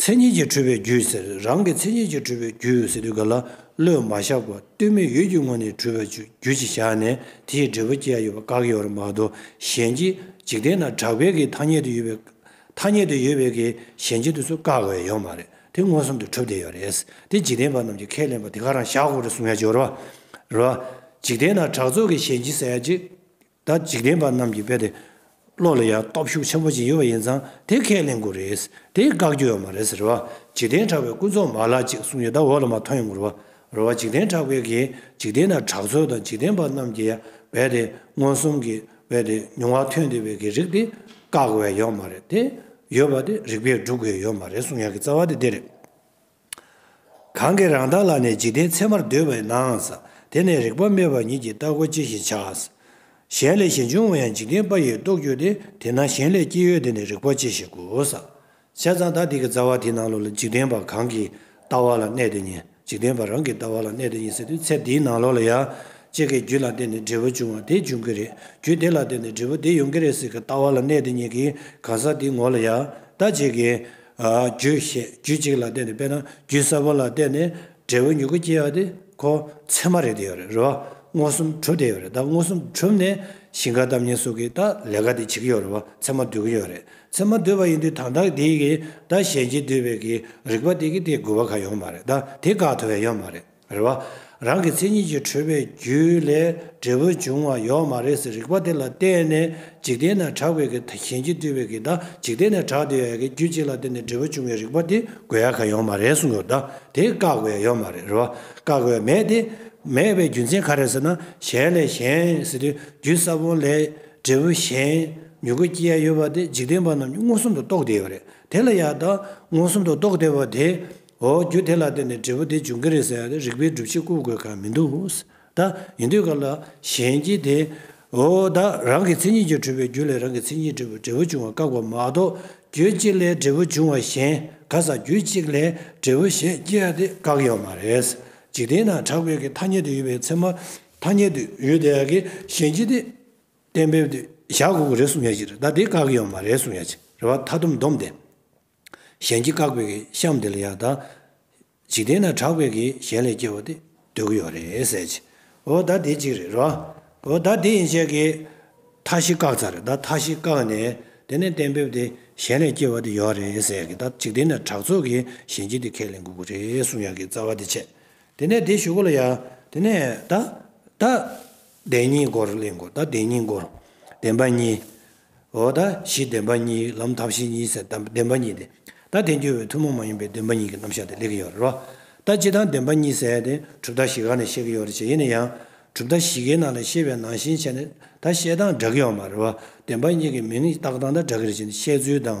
Speaker 1: མཚན་ཉིད་ཀྱིས་འཁྲུལ་པའི་རྒྱུ་ཟེར། རང་གི་མཚན་ཉིད་ཀྱིས་འཁྲུལ་པའི་རྒྱུ་ཟེར་དུས་ག་ལ་བློས་མ་བཞག་པར་བསྟོད་སྨད་ཡུལ་གྱི་ངོ་ནས་འཁྲུལ་བའི་རྒྱུ་ཞིག་བཞག་ནས་དེ་ཡི་འབྲས་བུ་སྐྱེ་ཡ་ཡོད་པ་བཀག་ཡོད་རེད་མ་གཏོགས་གཞན་གྱིས་འཇིག་རྟེན་ན་གྲགས་པའི་གིས་ཐ་སྙད་དུ་ཡོད་པའི་ཐ་སྙད་དུ་ཡོད་པའི་གིས་གཞན་གྱི་དུས་སུ་བཀག་ཡ་ཡོད་མ་རེད་དེ་མངོན་སུམ་དུ་གྲུབ་བསྡད་ཡོད་རེད་དེ་འཇིག་རྟེན་པ་རྣམས་ཀྱིས་ཁས་ལེན་པ་དེ་ག་རང་བཞག་གོ་རེ་གསུང་ཡ་སྦྱོར་བ་རེད། འཇིག་རྟེན་ན་གྲགས་ཚོགས་ཀྱི་གཞན་གྱིས་ཟེར་ཡ་གཅིག། ད་འཇིག་རྟེན་པ་རྣམས་ཀྱི་དཔེ་དེ་བློ་ལ་ཡང་སྟོབས་ཤུགས་ཆེན་པོ་ཅིག་ཡོད་པ་ཡིན་ཙང་དེ་ཁས་ལེན་དགོས་རེད། དེ་བཀག་རྒྱུ་ཡོད་མ་རེད་ཟེར་བ། འཇིག་རྟེན་གྲགས་པའི་སྐུ་མཚོག་མ་ལགས་ཅིག་གསུངས་ཡོད་ད་འོག་ལ་མ་ཐོན་ཡོང་གི་རོ། རོ། འཇིག་རྟེན་གྲགས་པའི་གིས་འཇིག་རྟེན་ན་གྲགས་ཚོལ་དང་འཇིག་རྟེན་པ་རྣམས་ཀྱི་ཡང་བས་དེ་མངོན་སུམ་གྱི་བས་དེ་མྱོང་བ་ཐོན་དུས་བས་ཀྱི་རིགས་དེ་བཀག་དགོས་ཡོད་མ་རེད་དེ། ཡོད་པ་དེ་རིགས་པས་བསྒྲུབ་དགོས་ཡོད་མ་རེད་གསུངས་ཡོང་གི་རྩ་བ་དེ་དེ་རེད། གང་གི་རང་མདངས་ལ་ནི་འཇིག་རྟེན་མཚན་མར་འདོད་པས་ནའང། དེ་ནི་རིག་པ་མེད་པ་ཉིད་ཀྱི་ལྟ་གོ་ཅི་བཞིན་བྱ། གཞན་ལས་གཞན་འབྱུང་བ་ཡང་འཇིག་རྟེན་པ་ཡིས་རྟོགས་གྱུར་ཏེ་དེས་ན་གཞན་ལས་སྐྱེས་ཡོད་དེ་ནི་རིག་པ་ཅི་བཞིན་གོ། བྱས་ཙང་ད་ཐིག་གི་རྩ་བ་དེ་ནང་ལོགས་ལ་འཇིག་རྟེན་པ་གང་གི་ལྟ་བ་ལ་གནས་དེ་ཉིད་འཇིག་རྟེན་པ་རང་གི་ལྟ་བ་ལ་གནས་དེ་ཉིད་ཟེར་དུས་ཚེ་འདིའི་ནང་ལོགས་ལ་ཡང། ཅེས་ཀྱི་རྒྱུད་ལ་བརྟེན་ནས་འབྲས་བུ་འབྱུང་བ་དེ་འབྱུང་གི་རེད་རྒྱུད་དེ་ལ་བརྟེན་ནས་འབྲས་བུ་དེ་ཡོང་གི་རེད་ཟེར་གྱི་ལྟ་བ་ལ་གནས་དེ་ཉིད་ཀྱི་གང་ཟག་དེའི་ངོ་ལ་ཡང། ད་ཅེས་ཀྱི། རྒྱུད་བཤད། རྒྱུད་གཅིག་ལ་བརྟེན་ནས་དཔེར་ན་རྒྱུད་གསར་པ་ལ་བརྟེན་ནས་འབྲས་བུ་མྱུ་གུ་སྐྱེ་བ་དེ་ཁོ་ཚད་མ་རེད་དེ་ཡོད་རེད་རེད་བ། མངོན་སུམ་གྲུབ་དེ་ཡོད་རེད་ད་མངོན་སུམ་གྲུབ་ནས་ཞིང་ཁ་གཏམ་ཉན་སོགས་ཀྱི་ད་ལས་ཀ་དེ་བྱེད་ཀྱི་ཡོད་རེད་བ་ཚད་མ་བསྡུ་གི་ཡོད་རེད་ཚད་མ་བསྡུས་པ་ཡིན་དུས་དང་ཐག་དེ་གིས་ད་གཞན་གྱིས་བསྡུས་པའི་གི་རིག་པ་དེ་གིས་དེ་དགོས་པ་ག་ཡོད་མ་རེད་ད་དེ་དགག་ཐུབ་བས་ཡོད་མ་རེད། རེད་བ། རང་གི་མཚན་ཉིད་ཀྱི་འཁྲུལ་པའི་རྒྱུ་ལས་འབྲས་བུ་འབྱུང་བ་ཡོད་མ་རེད་ཟེར་རིགས་པ་དེ་ལ་བརྟེན་ནས་འཇིག་རྟེན་ན་གྲགས་པའི་གི་དང་གཞན་གྱིས་བཏུས་པའི་གི་དང་འཇིག་རྟེན་ནས་གྲགས་འདི་ཡོད་ཡ་གི་རྒྱུ་གཅིག་ལ་བརྟེན་ནས་འབྲས་བུ་འབྱུང་བའི་རིགས་པ་དེ་དགོས་ཡ་ག་ཡོད་མ་རེད་གསུངས་ཡོད་ད་དེ་བཀག་བའི་ཡོད་མ་རེད་བ། བཀག་བའི་མེད་དེ། མེད་པའི་རྒྱུ་མཚན་ག་རེད་ཟེར་ན་གཞན་ལས་གཞན་ཟེར་དུས་རྒྱུ་ས་བོན་ལས་འབྲས་བུ་གཞན་མྱུ་གུ་སྐྱེ་ཡ་ཡོད་བ་དེ་འཇིག་རྟེན་པ་རྣམས་ཀྱི་མངོན་སུམ་དུ་རྟོགས་བསྡད་ཡོད་རེད་དེ་ལ་ཡ་ད་མངོན་སུམ་དུ་རྟོགས་བསྡད་བ་དེ་འོ་རྒྱུ་དེ་ལ་བརྟེན་ནས་འབྲས་བུ་དེ་འབྱུང་གི་རེད་ཟེར་ཡང་རིགས་པའི་སྒྲུབ་བྱེད་བཀུར་དགོས་ཁག་མི་འདུག་ད་ཡིན་དུས་སྐབས་ལ་གཞན་གྱིས་དེ་འོ་ད་རང་གི་མཚན་ཉིད་ཀྱིས་འཁྲུལ་པའི་རྒྱུ་ལས་རང་གི་མཚན་ཉིད་འབྲས་བུ་འབྲས་བུ་འབྱུང་བ་བཀག་པ་མ་གཏོགས་རྒྱུ་གཅིག་ལས་འབྲས་བུ་འབྱུང་བ་གཞན་ག་ས་རྒྱུ་གཅིག་ལས་འབྲས་བུ་གཞན་སྐྱེ་བ་དེ་བཀག་ཡོད་མ་རེད། འཇིག་རྟེན་ན་དྲག་པོའི་གི་ཐ་སྙད་དུ་ཡོད་པའི་ཚད་མ་ཐ་སྙད་དུ་ཡོད་དེ་ཡང་གི་གཞན་གྱིས་དེ་གཏན་འབེབས་དུ་བཞག་དགོས་གི་རེད་གསུང་ཡ་གཅིག་རེད་ད་དེ་བཀག་ཡོད་མ་རེད་གསུང་ཡ་གཅིག་རེད་བ་མཐའ་སྡོམ་སྡོམ་དེ། གཞན་གྱིས་བཀག་པའི་གཤམ་དེ་ལ་ཡག་ད། འཇིག་རྟེན་ན་གྲགས་པའི་གི་གཞན་ལས་སྐྱེ་བ་དེ་སྡོད་ཀྱི་ཡོད་རེད་ཟེར་གྱི། འོ་ད་དེ་གཅིག་རེད་རོ། འོ་ད་དེ་ཡིན་བྱས་ཀྱི། མཐའ་བཞི་བཀག་ཚར་རེད་ད་མཐའ་བཞི་བཀག་ནས་དེ་ནས་གཏན་འབེབས་དེ་གཞན་ལས་སྐྱེ་བ་དེ་ཡོད་རེད་ཟེར་གྱི་ད་འཇིག་རྟེན་ན་གྲགས་ཚོགས་ཀྱི་གཞན་གྱིས་དེ་ཁས་ལེན་དགོས་ཀྱི་རེད་གསུངས་ཡག་གི་རྩ་བ་དེ་བྱས། དེ་ནས་དེ་ཞུ་གོ་ལ་ཡག་དེ་ནས་ད། ད་བདེན་གཉིས་སྐོར་གླེང་གོ་ད་བདེན་གཉིས་སྐོར། བདེན་པ་གཉིས། འོ་ད་ཞི་བདེན་པ་གཉིས་ལམ་མཐའ་བཞི་གཉིས་ཟེར་ད་བདེན་པ་གཉིས་ཏེ། ད་དེ་འགྱུར་བའི་ཐུན་མོང་མ་ཡིན་པའི་བདེན་པ་གཉིས་ཀྱི་རྣམ་གཞག་དེ་ལེགས་ཡོད་རེད། ད་སྤྱི་དང་བདེན་པ་གཉིས་ཟེར་ཏེ་གྲུབ་མཐའ་བཞི་ག་ནས་བཤད་ཀྱི་ཡོད་རེད་བྱས་ཡིན་ན་ཡང། གྲུབ་མཐའ་བཞི་གའི་ནང་ལས་བཤད་པའི་ནང་བཞིན་བྱས་ནས་ད་བཤད་སྟངས་འདྲ་གི་ཡོད་མ་རེད་བདེན་པ་གཉིས་ཀྱི་མིང་བཏགས་སྟངས་ད་འདྲ་གི་རེད་བྱས་ནས་བཤད་ཚུལ་དང་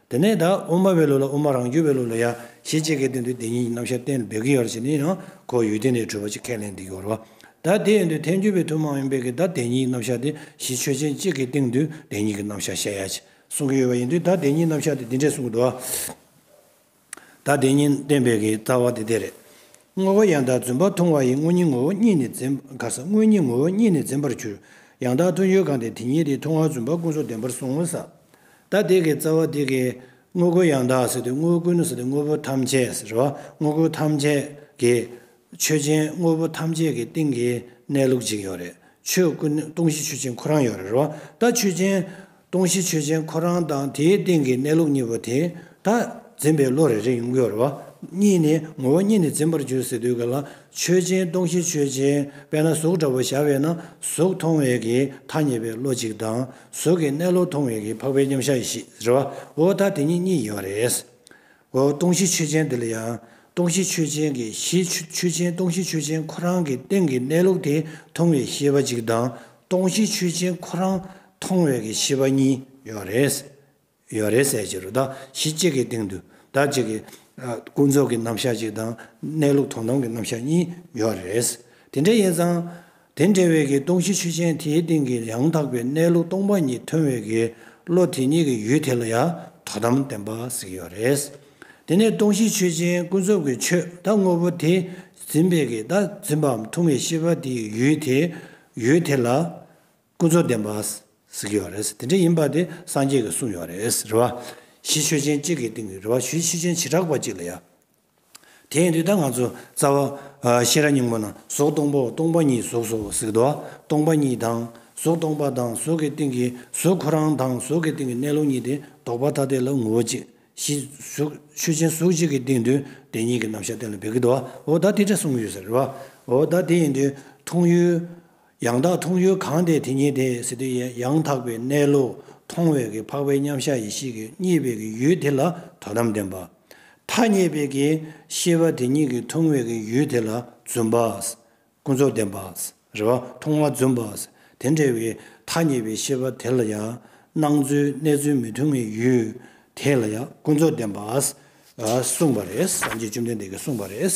Speaker 1: དེ་ནས་ད་ཨུ་མ་བའི་ལུགས་ལ་ཨུ་མ་རང་རྒྱུད་པའི་ལུགས་ལ་ཡང་ཞེས་ཅི་སྐད་དོན་དུ་དེ་ཉིད་ཀྱི་རྣམ་བཤད་གཏན་ལ་འབེབས་ཀྱི་ཡོད་རེད་ཅེས་ནི་ཡང་ཁོ་ཡུལ་དེ་ནས་གྲུབ་པ་ཅིག་ཁས་ལེན་འདི་ཀྱི་འོར་བ། ད་དེ་ཡིན་དུས་ཐལ་འགྱུར་བའི་ཐུན་མོང་ཡིན་པས་ཀྱི་ད་དེ་ཉིད་ཀྱི་རྣམ་བཤད་དེ་གཞི་ཆོས་ཅན་གཅིག་གི་སྟེང་དུ་དེ་ཉིད་ཀྱི་རྣམ་བཤད་བཤད་ཡ་ཅེས་གསུང་གི་ཡོད་པ་ཡིན་དུས་ད་དེ་ཉིད་རྣམ་བཤད་དེ་འདི་འདྲས་གསུང་གི་འདུག་ཨ། ད་དེ་ཉིད་བསྟན་པའི་ཀྱི་རྩ་བ་དེ་དེ་རེད། བསྔོ་བ་ཡང་དག་བརྫུན་པར་མཐོང་བ་ཡི་སྔོན་ཉིད་ངོ་བོ་ཉིད་ནི་འཛིན། ག་ས་སྔོན་ཉིད་ངོ་བོ་ཉིད་ནི་འཛིན་པར་གྱུར། ཡང་དག་མཐོང་ཡུལ་གང་དེ་དེ་ཉིད་དེ་མཐོང་བ་བརྫུན་པ་ཀུན་སོགས་བདེན་པར་བཟུང་ངོ། ས་ད་དེ་ཀའི་རྩ་བ་དེ་ཀའི། དངོས་ཀུན་ཡང་དག་ཟེར་ཏེ་དངོས་ཀུན་ནོ་ཟེར་ཏེ་དངོས་པོ་ཐམས་ཅད་ཟེར་རོ། དངོས་ཀུན་ཐམས་ཅད་ཀྱི། ཆོས་ཅན་དངོས་པོ་ཐམས་ཅད་ཀྱི་སྟེང་གི་གནས་ལུགས་གཅིག་ཡོད་རེད། ཆོས་ཀུན་སྟོང་གཞི་ཆོས་ཅན་ཁོ་རང་ཡོད་རེད་རོ། ད་ཆོས་ཅན། སྟོང་གཞི་ཆོས་ཅན་ཁོ་རང་དང་དེའི་སྟེང་གི་གནས་ལུགས་གཉིས་པོ་དེ་དག་འཛིན་པའི་བློ་རེ་རེ་ཡོང་གི་རེད། གཉིས་ནི་ངོ་བོ་གཉིས་ནི་འཛིན་པར་འགྱུར་ཟེར་དུས་ཀྱི་ལ་ཆོས་ཅན་སྟོང་གཞི་ཆོས་ཅན་དཔེར་ན་གཟུགས་འདྲ་བོ་ཞགས་པས་ན་གཟུགས་མཐོང་བའི་གི་ཐ་སྙད་པའི་བློ་གཅིག་དང་གཟུགས་ཀྱི་གནས་ལུགས་མཐོང་བའི་གི་འཕགས་པའི་མཉམ་གཞག་གི་ཞེས་ཟེར་བ་འོ་ད་དེ་གཉིས་གཉིས་ཡིན་བ་རེད། འོ་སྟོང་གཞི་ཆོས་ཅན་འདི་ལ་ཡང་སྟོང་གཞི་ཆོས་ཅན་གྱི་གཞི་ཆོས་ཅན་སྟོང་གཞི་ཆོས་ཅན་ཁོ་རང་གི་སྟེང་གི་གནས་ལུགས་དེ་མཐོང་བའི་ཤེས་པ་གཅིག་དང་སྟོང་གཞི་ཆོས་ཅན་ཁོ་རང་མཐོང་བའི་གི་ཤེས་པ་གཉིས་ཡོད་རེད། ཡོད་རེད་ཟེར་བྱེད་རུ་བདག་གཞི་གཅིག་གི་སྟེང་དུ་བདག་གཅིག་གི་ཀུན་རྫོབ་ཀྱི་རྣམ་གཞག་གཅིག་དང་གནས་ལུགས་མཐོང་སྟངས་ཀྱི་རྣམ་གཞག་གཉིས་ཡོད་རེད། དེ་འདྲ་ཡིན་ཙང། དེ་འདྲ་བའི་གི་སྟོང་གཞི་ཆུ་ཆེན་དེའི་སྟེང་གི་ཡང་དག་པའི་གནས་ལུགས་སྟོང་པ་ཉིད་མཐོང་བའི་གི་བློ་དེ་ཉིད་ཀྱི་ཡུལ་དེ་ལ་ཡང་དོ་དམ་བདེན་པ་ཟིག་ཡོད་རེད། དེ་ནས་སྟོང་གཞི་ཆོས་ཅན་ཀུན་རྫོབ་ཀྱི་ཆོས་ད་དངོས་པོ་དེ་འཛིན་པའི་གི་ད་འཛིན་པའམ་མཐོང་བའི་ཤེས་པ་དེའི་ཡུལ་དེ་ཡུལ་དེ་ལ་ཀུན་རྫོབ་བདེན་པ་ཟིག་ཡོད་རེད་དེ་འདྲ་ཡིན་པ་དེ་སངས་རྒྱས་ཀྱི་གསུང་ཡོད་རེད་རེ་བ་གཞི་ཆོས་ཅན་གཅིག་གི་སྟེང་གི་རེ་བ་གཞི་ཆོས་ཅན་བྱེ་བྲག་པ་གཅིག་ལ་ཡང་དེ་ཡིན་དུས་ད་ང་ཚོ་རྩ་བ། ཤེས་རབ་སྙིང་པོ་ན་གཟུགས་སྟོང་པོ་སྟོང་པ་ཉིད་གཟུགས་སོ་གཟིགས་དོ། སྟོང་པ་ཉིད་དང། གཟུགས་སྟོང་པ་དང་གཟུགས་ཀྱི་སྟེང་གི་གཟུགས་ཁོ་རང་དང་གཟུགས་ཀྱི་སྟེང་གི་གནས་ལུགས་གཉིས་དེ་ལྡོག་པ་ཐ་དད་ལ་ངོ་བོ་གཅིག། གཞིགས། ཆོས་ཅན་གཟུགས་གཅིག་གི་སྟེང་དུ་དེ་གཉིས་ཀྱི་རྣམ་གཞག་གཏན་ལ་འབེབས་ཀྱི་འདུག་བ་འོ་ད་དེ་འདྲ་གསུངས་ཡོད་ཟེར་རོ། འོ་ད་དེ་ཡིན་དུས་མཐོང་ཡུལ། ཡང་དག་མཐོང་ཡུལ་གང་དེ་དེ་ཉིད་དེ་སྲིད་དུ་ཡང་དག་པའི་གནས་ལུགས་མཐོང་བས་ཀྱི་འཕགས་པའི་མཉམ་གཞག་ཡེ་ཤེས་ཀྱི་གཉིས་པས་ཀྱི་ཡུལ་དེ་ལ་དོ་དམ་ལྡན་པ། ཐ་སྙད་པས་ཀྱི་ཤེས་པ་དེ་ཉིད་ཀྱི་མཐོང་བས་ཀྱི་ཡུལ་དེ་ལ་བརྫུན་པ། ཀུན་རྫོབ་ལྡན་པ། རེ་བ་མཐོང་བ་བརྫུན་པ། དེ་འདྲ་བའི་ཐ་སྙད་པའི་ཤེས་པ་དེ་ལ་ཡང་སྣང་ཚུལ་གནས་ཚུལ་མི་མཐུན་བའི་ཡུལ་དེ་ལ་ཡང་ཀུན་རྫོབ་ལྡན་པ། གསུངས་པ་རེད། སངས་རྒྱས་བཅོམ་ལྡན་འདས་ཀྱིས་གསུངས་པ་རེད།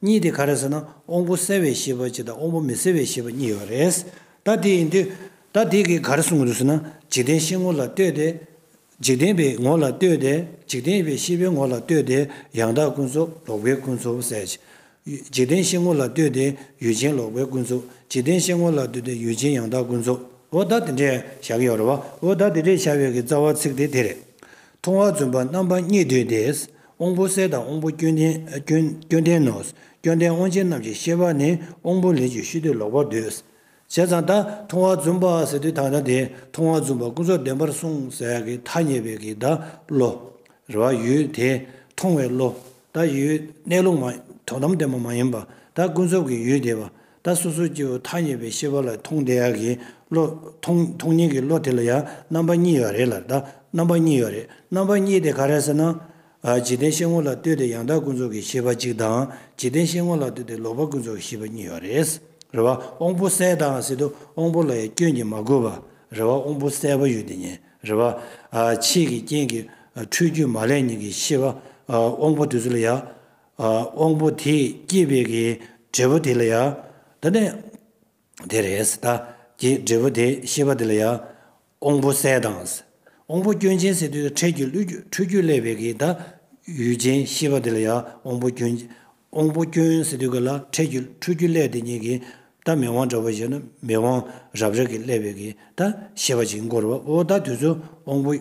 Speaker 1: གཉིས་དེ་ག་རེད་ཟེར་ན་དབང་པོ་གསལ་བའི་ཤེས་པ་གཅིག་དང་དབང་པོ་མི་གསལ་བའི་ཤེས་པ་གཉིས་ཡོད་རེད། ད་དེ་ཡིན་དུས་ད་དེ་གིས་ག་རེ་གསུང་གི་འདུག་ཟེར་ན་འཇིག་རྟེན་ཤེས་ངོ་ལ་ལྟོས་ཏེ། འཇིག་རྟེན་པའི་ངོ་ལ་ལྟོས་ཏེ་འཇིག་རྟེན་པའི་ཤེས་པའི་ངོ་ལ་ལྟོས་ཏེ་ཡང་དག་ཀུན་རྫོབ་ལོག་པའི་ཀུན་རྫོབ་གསལ། འཇིག་རྟེན་ཤེས་ངོ་ལ་ལྟོས་ཏེ་ཡུལ་ཅན་ལོག་པའི་ཀུན་རྫོབ་འཇིག་རྟེན་ཤེས་ངོ་ལ་ལྟོས་ཏེ་ཡུལ་ཅན་ཡང་དག་ཀུན་རྫོབ། འོ་ད་དེ་འདྲའི་བྱ་གི་ཡོད་རེད་བ། འོ་ད་དེ་འདྲའི་བྱ་བའི་གི་རྩ་བ་ཚིག་དེ་དེ་རེད། མཐོང་བ་བརྫུན་པ་རྣམ་པ་གཉིས་དུས་དེས་དབང་པོ་གསལ་དང་དབང་པོ་སྐྱོན་ལྡན། སྐྱོན་ལྡན་ནོ། སྐྱོན་ལྡན་དབང་ཆེན་རྣམས་ཀྱི་ཤེས་པ་ནི་དབང་པོ་ལས་ཀྱི་ཤུལ་དུ་ལོག་པར་འདོད། བྱས་ཙང་ད་མཐོང་བ་བརྫུན་པ་ཟེར་དུས་དང་ན་དེ་མཐོང་བ་བརྫུན་པ་ཀུན་རྫོབ་བདེན་པར་སོང་ཟེར་གྱི་ཐ་སྙད་པའི་གི་ད་བློ། རེ་བ་ཡུལ་དེ་མཐོང་བའི་བློ། ད་ཡུལ་གནས་ལུགས་མ། དོན་དམ་བདེན་པ་མ་ཡིན་པ། ད་ཀུན་རྫོབ་ཀྱི་ཡུལ་དེ་བ། ད་སོ་སོའི་སྐྱེ་བོ་མཐའ་ཡས་པའི་ཤེས་པ་ལ་མཐོང་བདེ་ཡག་གི་བློ། མཐོང་མཐོང་ཉེས་ཀྱི་བློ་དེ་ལ་ཡང་རྣམ་པ་གཉིས་ཡོད་རེད་ལ་ད་རྣམ་པ་གཉིས་ཡོད་རེད་རྣམ་པ་གཉིས་དེ་ག་རེད་ཟེར་ན། འཇིག་རྟེན་ཤེས་ངོ་ལ་ལྟོས་ཏེ་ཡང་དག་ཀུན་རྫོབ་ཀྱི་ཤེས་པ་གཅིག་དང་འཇིག་རྟེན་ཤེས་ངོ་ལ་ལྟོས་ཏེ་ལོག་པ་ཀུན་རྫོབ་ཀྱི་ཤེས་པ་གཉིས་ཡོད་རེད། རེ་བ་དབང་པོ་གསལ་དང་སྲིད་དུ་དབང་པོ་ལ་ཡང་སྐྱོན་གྱིས་མ་གོས་པ། རེ་བ་དབང་པོ་གསལ་བ་ཡོད་དེ་ཉིད་རེ་བ། ཆེས་ཀྱི་རྐྱེན་གྱི་འཁྲུལ་རྒྱུས་མ་ལས་ཉིད་ཀྱི་ཤེས་པ་དབང་པོ་དུས་ཚོད་ལ་ཡང། དབང་པོ་དེས་བསྐྱེད་པའི་གི་འབྲས་བུ་དེ་ལ་ཡང་འདི་ནི། དེ་རེས་ད་ཀྱི་འབྲས་བུ་དེ་ཤེས་པ་དེ་ལ་ཡང། དབང་པོ་གསལ་དང། དབང་པོ་སྐྱོན་ཅན་སེ་དུའི་འཕྲལ་གྱི་འཁྲུལ་རྒྱུ་བསླད་པའི་གི་ད་ཡུལ་ཅན་ཤེས་པ་དེ་ལ་ཡང་དབང་པོ་སྐྱོན། དབང་པོ་སྐྱོན་སེ་དུའི་གི་ལ་འཕྲལ་གྱི་འཁྲུལ་རྒྱུ་བསླད་དེ་ཉིད་ཀྱི་ད་མི་དབང་འདྲ་བ་ཞེ་ན་མི་དབང་རབ་རིབ་ཀྱི་བསླད་པའི་གི་ད་ཤེས་པ་ཅིག་འགོར་བའོ་ད་དུས་སུ་དབང་པོ།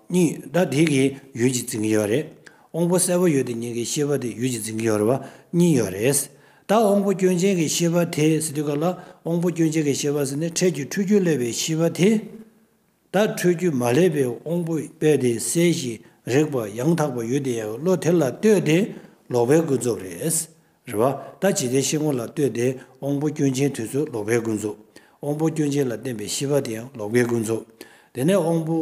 Speaker 1: གཉིས། ཟླ་དེ་གི་ཡུལ་གྱི་འཛིན་གྱི་ཡོད་རེད། དབང་པོ་གསལ་པོ་ཡོད་དེ་ཉིད་ཀྱི་ཤེས་པ་དེ་ཡུལ་གྱི་འཛིན་གྱི་ཡོད་རེད་པ་གཉིས་ཡོད་རེད། ད་དབང་པོ་སྐྱོན་ཅན་གྱི་ཤེས་པ་དེ་ཟེར་དུས་ག་ལ་དབང་པོ་སྐྱོན་ཅན་གྱི་ཤེས་པ་ཟེར་ནས་འཕྲལ་གྱི་འཁྲུལ་རྒྱུ་སླེབས་པའི་ཤེས་པ་དེ། ད་འཁྲུལ་རྒྱུ་མ་སླེབས་པའི་དབང་པོ་དཔེ་དེ་གསལ་ཞིང་རེག་པ་ཡང་དག་པ་ཡོད་དེ་ཡང་བློ་དེ་ལ་ལྟོས་ཏེ་ལོག་པའི་ཀུན་རྫོབ་རེད། རེ་བ། ད་ཇི་ལྟའི་ཤེས་ཁོང་ལ་ལྟོས་ཏེ་དབང་པོ་སྐྱོན་ཅན་དུས་ཚོད་ལོག་པའི་ཀུན་རྫོབ། དབང་པོ་སྐྱོན་ཅན་ལ་བརྟེན་པའི་ཤེས་པ་དེ་ཡང་ལོག་པའི་ཀུན་རྫོབ། དེ་ནས་དབང་པོ།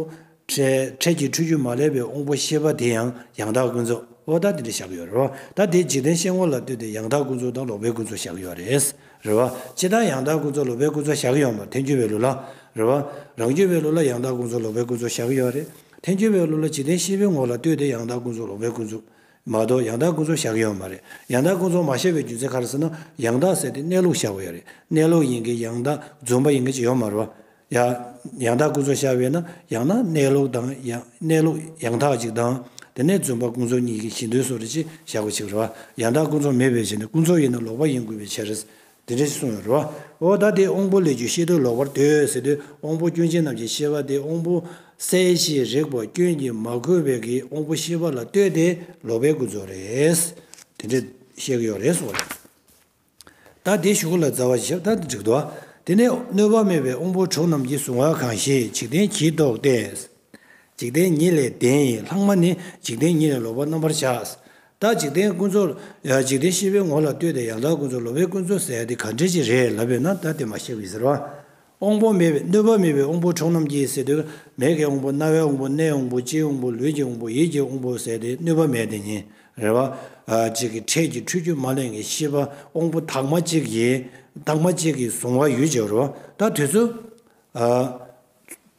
Speaker 1: འཕྲལ་གྱི་འཁྲུལ་རྒྱུ་མ་བསླད་པའི་དབང་པོ་ཤེས་པ་དེ་ཡང་ཡང་དག་ཀུན་རྫོབ། འོ་ད་དེ་འདྲ་བཞག་གི་ཡོད། རེ་བ། ད་དེ་འཇིག་རྟེན་ཤེས་ཁོང་ལ་ལྟོས་ཏེ་ཡང་དག་ཀུན་རྫོབ་དང་ལོག་པའི་ཀུན་རྫོབ་བཞག་གི་ཡོད་རེད། རེ་བ། ཕྱི་དང་ཡང་དག་ཀུན་རྫོབ་ལོག་པའི་ཀུན་རྫོབ་བཞག་གི་ཡོད་མ་འཐེན་འཁྱོལ་བའི་ལུགས་ལ། རེ་བ། རང་འཁྱོལ་བའི་ལུགས་ལ་ཡང་དག་ཀུན་རྫོབ་ལོག་པའི་ཀུན་རྫོབ་བཞག་གི་ཡོད་རེད། འཐེན་འཁྱོལ་བའི་ལུགས་ལ་འཇིག་རྟེན་ཤེས་པའི་ངོ་ལ་ལྟོས་ཏེ་ཡང་དག་ཀུན་རྫོབ་ལོག་པའི་ཀུན་རྫོབ། མ་གཏོགས་ཡང་དག་ཀུན་རྫོབ་བཞག་གི་ཡོད་མ་རེད། ཡང་དག་ཀུན་རྫོབ་མ་བཤད་པའི་རྒྱུ་མཚན་ག་རེ་ཟེར་ན། ཡང་དག་ཟེར་ཏེ་གནས་ལུགས་བཞག་པ་ཡོད་རེད། གནས་ལུགས་ཡིན་གྱི་ཡང་དག་རྫུན་པ་ཡིན་གྱི་ཅི་ཡོད་མ་རེད། ཡང་དག་ཀུན་རྫོབ་བཞག་པས་ན་ཡང་ན་གནས་ལུགས་དང་གནས་ལུགས་ཡང་དག་ཅིག་དང། དེ་ནས་རྫུན་པ་ཀུན་རྫོབ་གཉིས་ཀྱི་གཞི་མདོའི་སོ་རེད་ཅེས་བཞག་པ་ཅིག་རེད། ཡང་དག་ཀུན་རྫོབ་མེད་པའི་ཕྱིར་ནས་ཀུན་རྫོབ་ཡིན་ན་ལོག་པ་ཡིན་དགོས་པའི་ཕྱིར། དེ་འདྲའི་གསུང་ཡང་རུང་བ། འོ་ད་དེ་དབང་པོ་ལས་རྒྱུ་ཤེས་དོན་ལོག་པར་ལྟོས་ཟེར་དུས་དབང་པོ་སྐྱོན་ཅན་རྣམས་ཀྱི་ཤེས་པ་དེ་དབང་པོ་གསལ་བྱེད་རེག་པ་སྐྱོན་གྱིས་མ་གོས་པའི་གི་དབང་པོ་ཤེས་པ་ལ་ལྟོས་ཏེ་ལོག་པའི་ཀུན་རྫོབ་རེད། དེ་འདྲའི་བཤད་ཀྱི་ཡོད་རེད་གསུང་བ་རེད། ད་དེ་ཞུ་གུ་ལ་རྫ་བ་ཞབས་ཐག་འགྲིག་འདུག་དེ་ནས་གནོད་པ་མེད་པའི་དབང་པོ་དྲུག་རྣམས་ཀྱི་གཟུང་བ་གང་ཞིག་འཇིག་རྟེན་གྱིས་རྟོགས་ཏེ། འཇིག་རྟེན་ཉིད་ལས་བདེན་ཡིན་ལྷག་མ་ནི་འཇིག་རྟེན་ཉིད་ལས་ལོག་པར་རྣམ་པར་བཞག། བདག་འཇིག་རྟེན་ཀུན་རྫོབ། འཇིག་རྟེན་ཤེས་པའི་ངོ་ལ་ལྟོས་ཏེ་ཡང་བདག་ཀུན་རྫོབ་ལོ་བའི་ཀུན་རྫོབ་ཟེར་ཡ་དེ་ག་འདྲས་ཅི་རེད་ལབ་པས་ན་བདག་དེ་མ་ཤེས་པའི་ཟེར་བ། དབང་པོ་མེད་པའི་གནོད་པ་མེད་པའི་དབང་པོ་གྲོགས་རྣམས་ཀྱིས་ཟེར་དུས་མེད་ཀྱི་དབང་པོ་རྣ་བའི་དབང་པོ་སྣའི་དབང་པོ་ལྕེའི་དབང་པོ་ལུས་ཀྱི་དབང་པོ་ཡིད་ཀྱི་དབང་པོ་ཟེར་ཏེ་གནོད་པ་མེད་དེ་ཉིད་རེད། བ་གཅིག་གིས་འཕྲལ་གྱི་འཁྲུལ་རྒྱུ་མ་ལེན་གྱི་ཤེས་པ་དབང་པོ་དག་མ་གཅིག་གིས་དག་མ་གཅིག་གིས་བཟུང་བ་ཡུལ་གྱི་རོ། ད་དུས་ཚོད།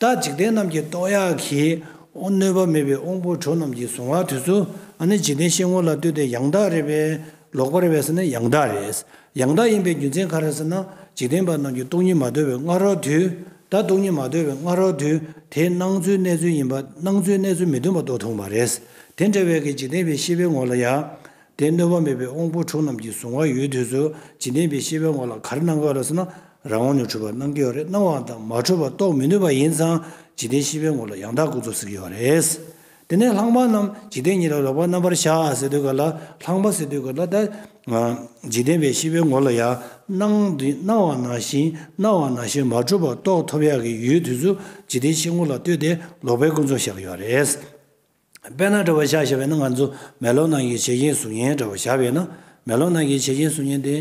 Speaker 1: རྟག་འཇིག་རྟེན་རྣམས་ཀྱི་རྟོག་ཡ་གིས། གནོད་པ་མེད་པའི་དབང་པོ་གྲོགས་རྣམས་ཀྱི་གཟུང་བ་དུས་སུ་ནི་འཇིག་རྟེན་གཤེད་ངོ་ལ་ལྟོས་ཏེ་ཡང་དག་རེད་པས་ལོག་པར་བས་ནི་ཡང་དག་རེད། ཡང་དག་ཡིན་པའི་རྒྱུ་མཚན་ག་རེ་ཟེར་ན་འཇིག་རྟེན་པ་རྣམས་ཀྱི་སྟོང་ཉིད་མ་དོར་བའི་སྔ་རོལ་དུས་ད་སྟོང་ཉིད་མ་དོར་བའི་སྔ་རོལ་དུས་དེ་སྣང་ཚུལ་གནས་ཚུལ་ཡིན་པ་སྣང་ཚུལ་གནས་ཚུལ་མི་མཐུན་པ་རྟོགས་ཐུང་བ་རེད། དེ་འདྲ་བས་ཀྱི་འཇིག་རྟེན་པའི་ཤེས་པའི་ངོ་ལ་ཡང། དེ་གནོད་པ་མེད་པའི་དབང་པོ་དྲུག་རྣམས་ཀྱིས་གཟུང་བ་ཡོད་དུས་སུ་བྱིན་ལྡན་པའི་ཤེས་པའི་ངོ་ལ་གར་སྣང་ག་རེ་སོང་ན་རང་ངོ་ནས་འཁྲུལ་པར་སྣང་གི་ཡོད་རེད་སྣང་བའང་དང་མ་འཁྲུལ་པར་རྟོགས་མི་ནུས་པ་ཡིན་ཙང་བྱིན་ལྡན་ཤེས་པའི་ངོ་ལ་ཡང་དག་ཀུན་རྫོབ་ཟེར་གྱི་ཡོད་རེད། དེ་ནས་ལྷག་མ་རྣམས་འཇིག་རྟེན་ཉིད་ལ་ལོག་པར་རྣམ་པར་བཞག་ཟེར་དུས་ག་ལ་ལྷག་མ་ཟེར་དུས་ག་ལ་དང། འཇིག་རྟེན་པའི་ཤེས་པའི་ངོ་ལ་ཡང་སྣང་འདི་སྣང་བ་ནང་བཞིན་སྣང་བ་ནང་བཞིན་མ་འཁྲུལ་པར་རྟོགས་ཐོབ་ཡག་གི་ཡོད་དུས་སུ་འཇིག་རྟེན་ཤེས་ངོ་ལ་ལྟོས་ཏེ་ལོག་པའི་ཀུན་རྫོབ་བཞག་གི་ཡོད་རེད། དཔེར་ན་དྲ་བ་བཞག་བྱ་བས་ན་ང་ཚོ་མེ་ལོང་ནང་གི་བྱེད་རྐྱེན་གཟུགས་བརྙན་དྲ་བ་བཞག་པས་ན་མེ་ལོང་ནང་གི་བྱེད་རྐྱེན་གཟུགས་བརྙན་དེ།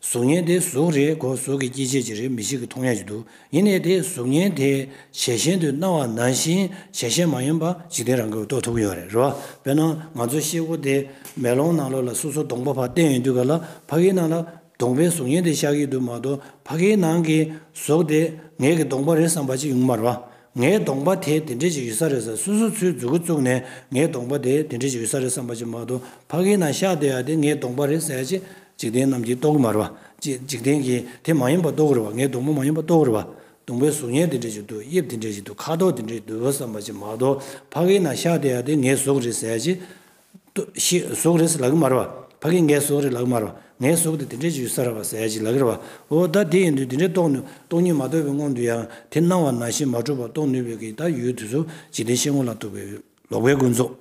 Speaker 1: གཟུགས་བརྙན་དེ་གཟུགས་རེད་གོ་གཟུགས་ཀྱི་སྐྱེ་མཆེད་ཅིག་རེད་མི་ཞིག་གིས་མཐོང་ཉར་གྱི་འདུག་ཡིན་ནའི་དེ་གཟུགས་བརྙན་དེའི་ཞལ་ཞན་དུ་སྣང་བ་ནང་བཞིན་ཞལ་ཞན་མ་ཡིན་པ་འཇིག་རྟེན་རང་གིས་རྟོགས་ཐུབ་ཀྱི་ཡོད་རེད་རོ། དཔེར་ན་ང་ཚོ་ཤེལ་སྒོ་དེ་མེ་ལོང་ནང་ལོགས་ལ་སོ་སོ་སྡོང་པོ་བ་སྟན་ཡོད་དུས་ག་ལ་ཕ་གིའི་ནང་ལ་གདོང་པའི་གཟུགས་བརྙན་དེ་ཤག་ཡིག་ཏུ་མ་གཏོགས་ཕ་གིའི་ནང་གི་གཟུགས་དེ་ངེད་ཀྱི་གདོང་པ་རེད་བསམ་པ་ཅིག་ཡོང་མར་བ། ངའི་གདོང་པ་དེ་དེ་འདྲས་ཅིག་ཡོད་ས་རེད་ས་སུ་སུ་ཚོའི་རྫུ་གུ་བཙུགས་ནས་ངའི་གདོང་པ་དེ་དེ་འདྲས་ཅིག་ཡོད་ས་རེད་བསམ་པ་ཅིག་མ་གཏོགས་ཕ་གིའི་ནང་ཤག་དེ་ཡ་དེ་ངའི་གདོང་པ་རེད་ས་ཡ་ཅིག་འཇིག་རྟེན་རྣམས་ཀྱིས་རྟོགས་གི་མར་བ། འཇིག་རྟེན་གྱིས་དེ་མ་ཡིན་པ་རྟོགས་གི་རེད་བ་ངའི་གདོང་པ་མ་ཡིན་པ་རྟོགས་གི་རེད་བ། གདོང་པའི་གཟུགས་བརྙན་དེ་འདྲས་ཅིག་འདུག་དབྱིབས་དེ་འདྲས་ཅིག་འདུག་ཁ་དོག་དེ་འདྲས་ཅིག་འདུག་བསམ་པ་ཅིག་མ་གཏོགས་ཕ་གིའི་ནང་ཤག་དེ་ཡ་དེ་ངའི་གཟུགས་རེད་ས་ཡ་ཅིག་ལྟོས་ཤིག། གཟུགས་རེས་ལག་གིས་སྨྲ་བ། ཕ་གིས་ངའི་གཟུགས་རེས་ལག་གིས་སྨྲ་བ། ངའི་གཟུགས་དེ་དེ་འདྲའི་ཆུད་ཟ་ར་བ་ཟད་ཅིག་ལག་གིས་ར་བ། འོ་ད་དེ་ཡིན་དུས་དེ་འདྲའི་རྟོགས་ནུས་སྟོང་ཉིད་མ་རྟོགས་པའི་སྔོན་དུ་ཡང་དེ་སྣང་བ་ནང་བཞིན་མ་གྲུབ་པར་རྟོགས་ནུས་པའི་གིས་ད་ཡོད་དུས་སུ་འཇིག་རྟེན་ཤེས་ངོ་ལ་ཐུག་པའི་ལོག་པའི་ཀུན་རྫོབ་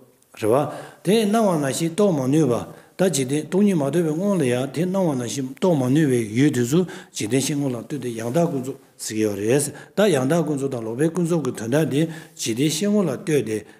Speaker 1: རེ་བ། དེ་སྣང་བ་ནང་བཞིན་རྟོགས་མ་ནུས་པ། ད་འཇིག་རྟེན་སྟོང་ཉིད་མ་རྟོགས་པའི་སྔོན་ལ་ཡང་དེ་སྣང་བ་ནང་བཞིན་རྟོགས་མ་ནུས་པའི་ཡོད་དུས་སུ་འཇིག་རྟེན་ཤེས་ངོ་ལ་ལྟོས་ཏེ་ཡང་དག་ཀུན་རྫོབ་ཟེར་གྱི་ཡོད་རེད། ད་ཡང་དག་ཀུན་རྫོབ་དང་ལོག་པའི་ཀུན་རྫོབ་ཀྱི་དོན་དག་འདི་འཇིག་རྟེན་ཤེས་ངོ་ལ་ལྟོས་ཏེ་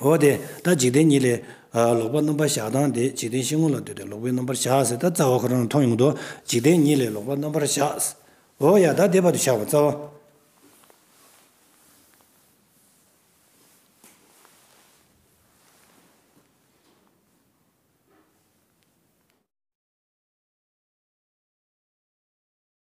Speaker 1: འོ་དེ་ལྟར་འཇིག་རྟེན་ཉིད་ལས། ལོག་པར་རྣམ་པར་གཞག་དང་དེ་འཇིག་རྟེན་ཤིང་མོ་ལ་ལྟོས་ཏེ་ལོག་པའི་རྣམ་པར་གཞག་ཟེར་ད་རྩ་བ་ཁོ་རང་ལ་མཐོང་ཡོང་དོ། འཇིག་རྟེན་ཉིད་ལས་ལོག་པར་རྣམ་པར་གཞག། འོ་ཡ་ད་དེ་བར་དུ་གཞག་པར་རྩ་བ།